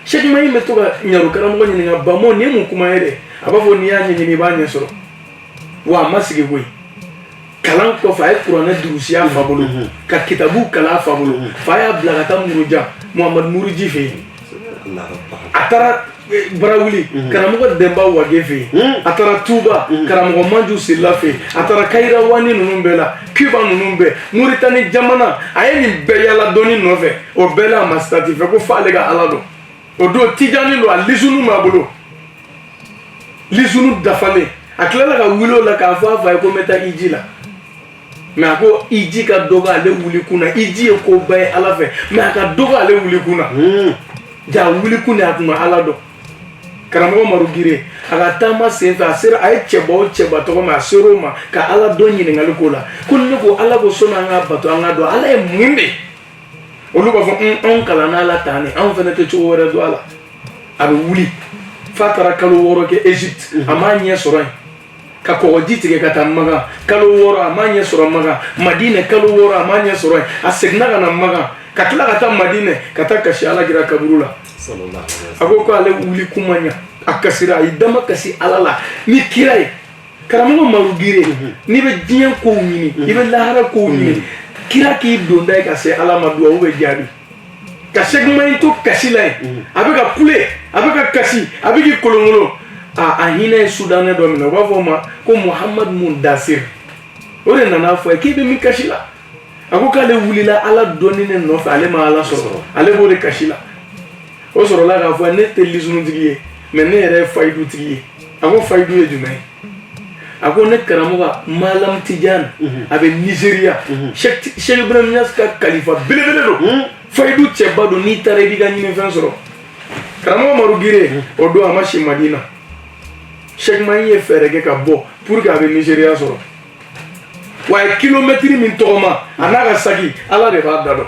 Sɛki Mahi bɛ to ka ɲaro karamɔgɔ ɲininka bama ni mun kuma ye dɛ a b'a fɔ n'i y'a ɲɛɲini i b'a ɲɛ sɔrɔ wa a ma sigi koyi kalan kɔfɛ a ye kuranɛ durusi a fa bolo ka kitabu kalan fa bolo fa y'a bila ka taa muruja muhamadu muruji fɛ yen a taara eh, barawuli mhm. karamɔgɔ dɛnba wage fɛ yen mhm. a taara tuba mhm. karamɔgɔ maju sila fɛ yen a taara kayirawani ninnu bɛɛ la cuba ninnu bɛɛ moritani jamana a ye nin bɛɛ yala dɔnni nɔfɛ o bɛɛ la a ma satisfait ko f'ale ka ala dɔn o dun tijani don a lizunu b'a bolo lizunu dafalen a tilala ka wuli o la k'a fɔ a fa ye ko n bɛ taa iji la mɛ a ko iji ka dɔgɔ ale wuli kun na iji ye koba ye ala fɛ mɛ a ka dɔgɔ ale wuli kun na ja wuli kun de a tun ma ala dɔn karamɔgɔ marugire a ka taama senfɛ a sera a ye cɛba o cɛba tɔgɔ mɛn a sera o ma ka ala dɔn ɲininkali k'o la ko ne ko ala ko sɔnni an k'a bato an k'a dɔn ala ye mun de olu b'a fɔ n anw kalanna a la tan de anw fana tɛ cogo wɛrɛ dɔn a la a bɛ wuli f'a taara kalo wɔɔrɔ kɛ egypte a m'a ɲɛ sɔrɔ yen ka kɔgɔji tigɛ ka taa makan kalo wɔɔrɔ a m'a ɲɛ sɔrɔ makan madinɛ kalo wɔɔrɔ a m'a ɲɛ sɔrɔ a seginna ka na makan ka tila ka taa madinɛ ka taa kasi ala kira kaburu la a ko ko ale wulikun ma ɲa a kasira a y'i damakasi ala la ni kira ye karamɔgɔ maru gire mhm. n'i bɛ diɲɛ kow ɲini i bɛ mhm. lahara kow ɲini mhm. kira k'i donda ye ka se ala ma duwawu bɛ jaabi ka sɛki mahi to kasi la yen mhm. a bɛ ka kule a bɛ ka kasi a bɛ k'i kolonkolon a a hinɛ ye sudanɛ dɔ minɛ u b'a fɔ o ma ko muhamadu muntasiri o de nan'a fɔ a ye k'i bɛ min kasi la a ko k'ale wulila ala dɔnni de nɔfɛ ale ma ala sɔrɔ ale b'o de kasi la o sɔrɔla k'a fɔ ne tɛ lisunutigi ye mais ne yɛrɛ ye fayidutigi ye a ko fayidu ye jumɛn a ko ne karamɔgɔ malam tijan mhm. a bɛ nizeria sɛki ibrahim ɲas ka kalifa belebele don mhm. fayidu cɛba don n'i taara i b'i ka ɲininfɛn sɔrɔ karamɔgɔ maru gire mhm. o don a ma si madina sɛki mahi ye fɛɛrɛ kɛ ka bɔ pour que a bɛ nizeria sɔrɔ wa a ye kilomɛtiri min tɔgɔma a n'a ka saki ala de b'a da dɔn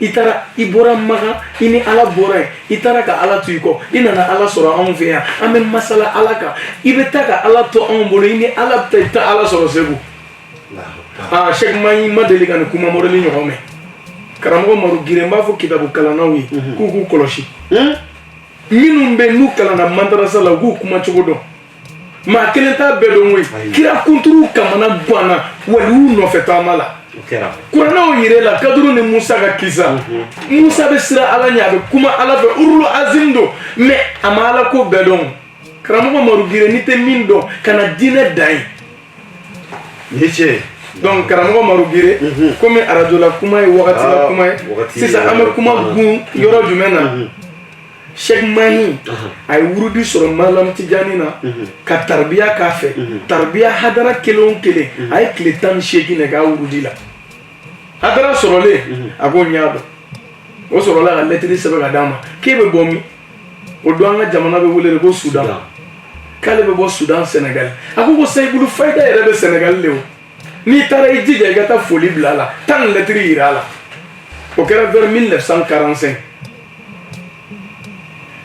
i taara i bɔra makan i ni ala bɔra yen i taara ka ala to i kɔ i nana ala sɔrɔ anw fɛ yan an bɛ masala ala kan i bɛ taa ka ala to anw bolo i ni ala bɛ taa ala sɔrɔ segu aa sɛki mahi ma deli ka nin kuma mɔdɛli ɲɔgɔn mɛn karamɔgɔ maru gire n b'a fɔ kitabu kalannaw ye mhm. k'u k'u kɔlɔsi minnu bɛ n'u kalanna mandarasa la u k'u kuma cogo dɔn maa kelen t'a bɛɛ dɔn koyi kira kunturuw kamanaganna waliw nɔfɛ taama la kuranɛ yɛrɛ la kaduru ni musa ka kisa mhm. musa bɛ siran ala ɲɛ a bɛ kuma ala fɛ urulu azim don mais a ma ala ko bɛɛ dɔn karamɔgɔ maru gire n'i tɛ min dɔn kana diinɛ dan yen i ni ce donc karamɔgɔ maru gire mhm. komi arajo la kuma ye wagati la ah, kuma ye sisan an bɛ kuma kun yɔrɔ jumɛn na mhm. sɛki mahi a ye wurudi sɔrɔ malam tijani na ka taribiya k'a fɛ taribiya hadara kelen o kelen a ye tile tan ni seegin de k'a wurudi la hadara sɔrɔlen a ko n y'a dɔn o sɔrɔla ka lɛtiri sɛbɛn ka d'a ma k'e bɛ bɔ min o don an ka jamana bɛ wele de ko sudan k'ale bɛ bɔ sudan sɛnɛgali a ko ko sahibulu fayida yɛrɛ bɛ sɛnɛgali de o n'i taara i jija i ka taa foli bila a la taa nin lɛtiri yira a la o kɛra vers 1945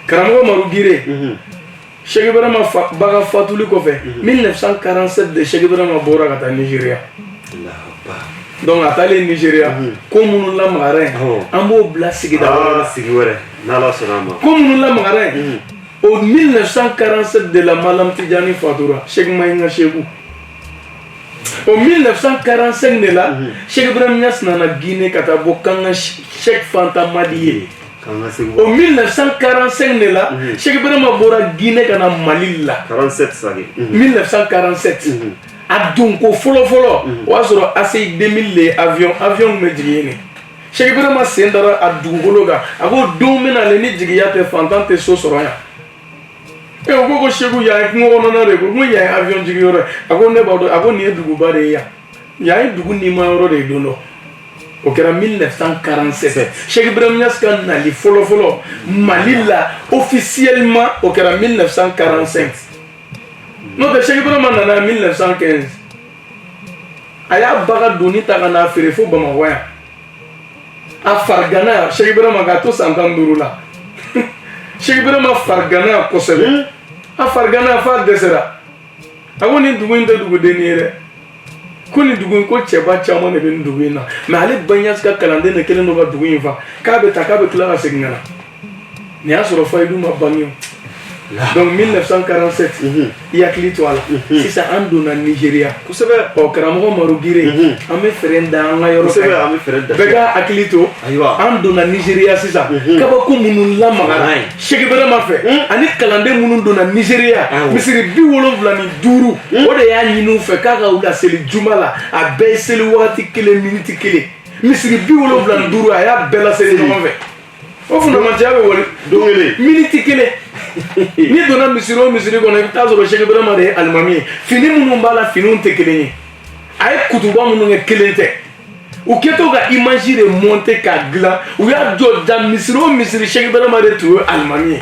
karamɔgɔ maru gire mhm. sɛki barama ba ka fatuli kɔfɛ 1947 mhm. de sɛki barama bɔra ka taa nigeria donc a taalen nigeria mhm. ko minnu lamagara yen an b'o bila sigida wɛrɛ ah, sigi wɛrɛ n'ala sɔnna a ma ko minnu lamagara yen o 1947 de la malam tijani fatura sɛki mahi ka seku o 1945 de la Cheikh Ibrahim Niass nana Guinée ka taa bɔ Kankan Cheikh Fanta Madi ye o 1945 de la Cheikh Ibrahim bɔra Guinée ka na Mali la 47 ça 1947 a donko fɔlɔ fɔlɔ o y'a sɔrɔ ACI 2000 de ye avion avion tun bɛ jigin yen Cheikh Ibrahim sen dara a dugukolo kan a ko don bɛna le ni jigiya tɛ fantan tɛ so sɔrɔ yan e ko ko Cheikh yan ye kungo kɔnɔna de ko n ko yan ye avion jigi yɔrɔ ye a ko ne b'a dɔn a ko nin ye duguba de ye yan yan ye dugu nima yɔrɔ de ye don dɔ o kɛra 1947 Cheikh Ibrahim Niass ka nali fɔlɔfɔlɔ mali la officiellement o kɛra 1945 n'o tɛ Cheikh Ibrahima nana 1915 a y'a ba ka doni ta ka n'a feere fo bamakɔ yan a farigana yan Cheikh Ibrahima k'a to san tan duuru la Cheikh Ibrahima farigana yan kosɛbɛ hmm? a farigana yan f'a dɛsɛra a ko nin dugu in tɛ dugudennin ye dɛ ko nin dugu in ko cɛba caman de bɛ nin dugu in na mais ale Baye Niass ka kalanden de kelen don ka dugu in fa k'a bɛ taa k'a bɛ tila ka segin ka na nin y'a sɔrɔ fayidu ma bange donc 1947 i hakili to a la sisan an donna nigeria kosɛbɛ ɔ karamɔgɔ madu gire an bɛ fɛɛrɛ da an ka yɔrɔ an bɛ fɛɛrɛ da bɛɛ ka hakili to an donna nigeria sisan kabako minnu lamagara Cheikh Ibrahima fɛ ani kalanden minnu donna nigeria misiri bi wolonwula ni duuru o de y'a ɲini u fɛ k'a ka u laseli juma la a bɛɛ ye seli wagati kelen miniti kelen misiri bi wolonwula ni duuru a y'a bɛɛ laseli ɲɔgɔn fɛ o funamatiya bɛ wale don kelen miniti kelen n'i donna misiri o misiri kɔnɔ i bɛ taa sɔrɔ Cheikh Ibrahima de ye alimami ye fini minnu b'a la finiw tɛ kelen ye a ye kutuba minnu kɛ kelen tɛ u kɛtɔ ka image de monter k'a dilan u y'a jɔ da misiri o misiri Cheikh Ibrahima de tun ye alimami ye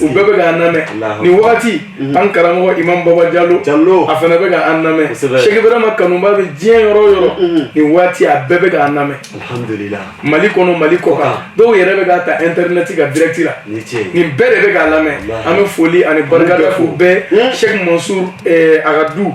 u bɛɛ bɛ k'an lamɛn nin wagati mhm. an karamɔgɔ imam baba jalo a fana bɛ k'an lamɛn Cheikh Ibrahima kanubaa bɛ diɲɛ yɔrɔ o yɔrɔ mhm. nin waati a bɛɛ bɛ k'an lamɛn mali kɔnɔ mali kɔkan dɔw yɛrɛ bɛ k'a ta internet ka direct la nin bɛɛ de bɛ k'a lamɛn an bɛ foli ani barika da fo bɛɛ mhm. Cheikh Mansour eh, a ka du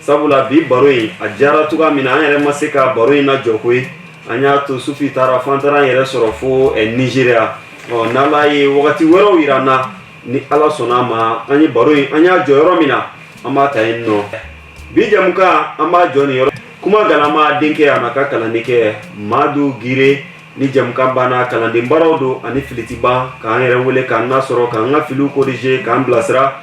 sabula bi baro in a diyara cogoya min na an yɛrɛ ma se ka baro in lajɔ koyi an y'a to sufi taara fo an taara an yɛrɛ sɔrɔ fo eh, nigeria ɔ n'ala ye wagati wɛrɛw yira an na ni ala sɔnna a ma an ye baro in an y'a jɔ yɔrɔ min na an b'a ta yen nɔ bi jamukan an b'a jɔ nin yɔrɔ kuma galama denkɛ a n'a ka kalandenkɛ madu gire ni jamukan banna kalanden baaraw don ani fili tɛ ban k'an yɛrɛ wele k'an nasɔrɔ k'an ka filiw korije k'an bilasira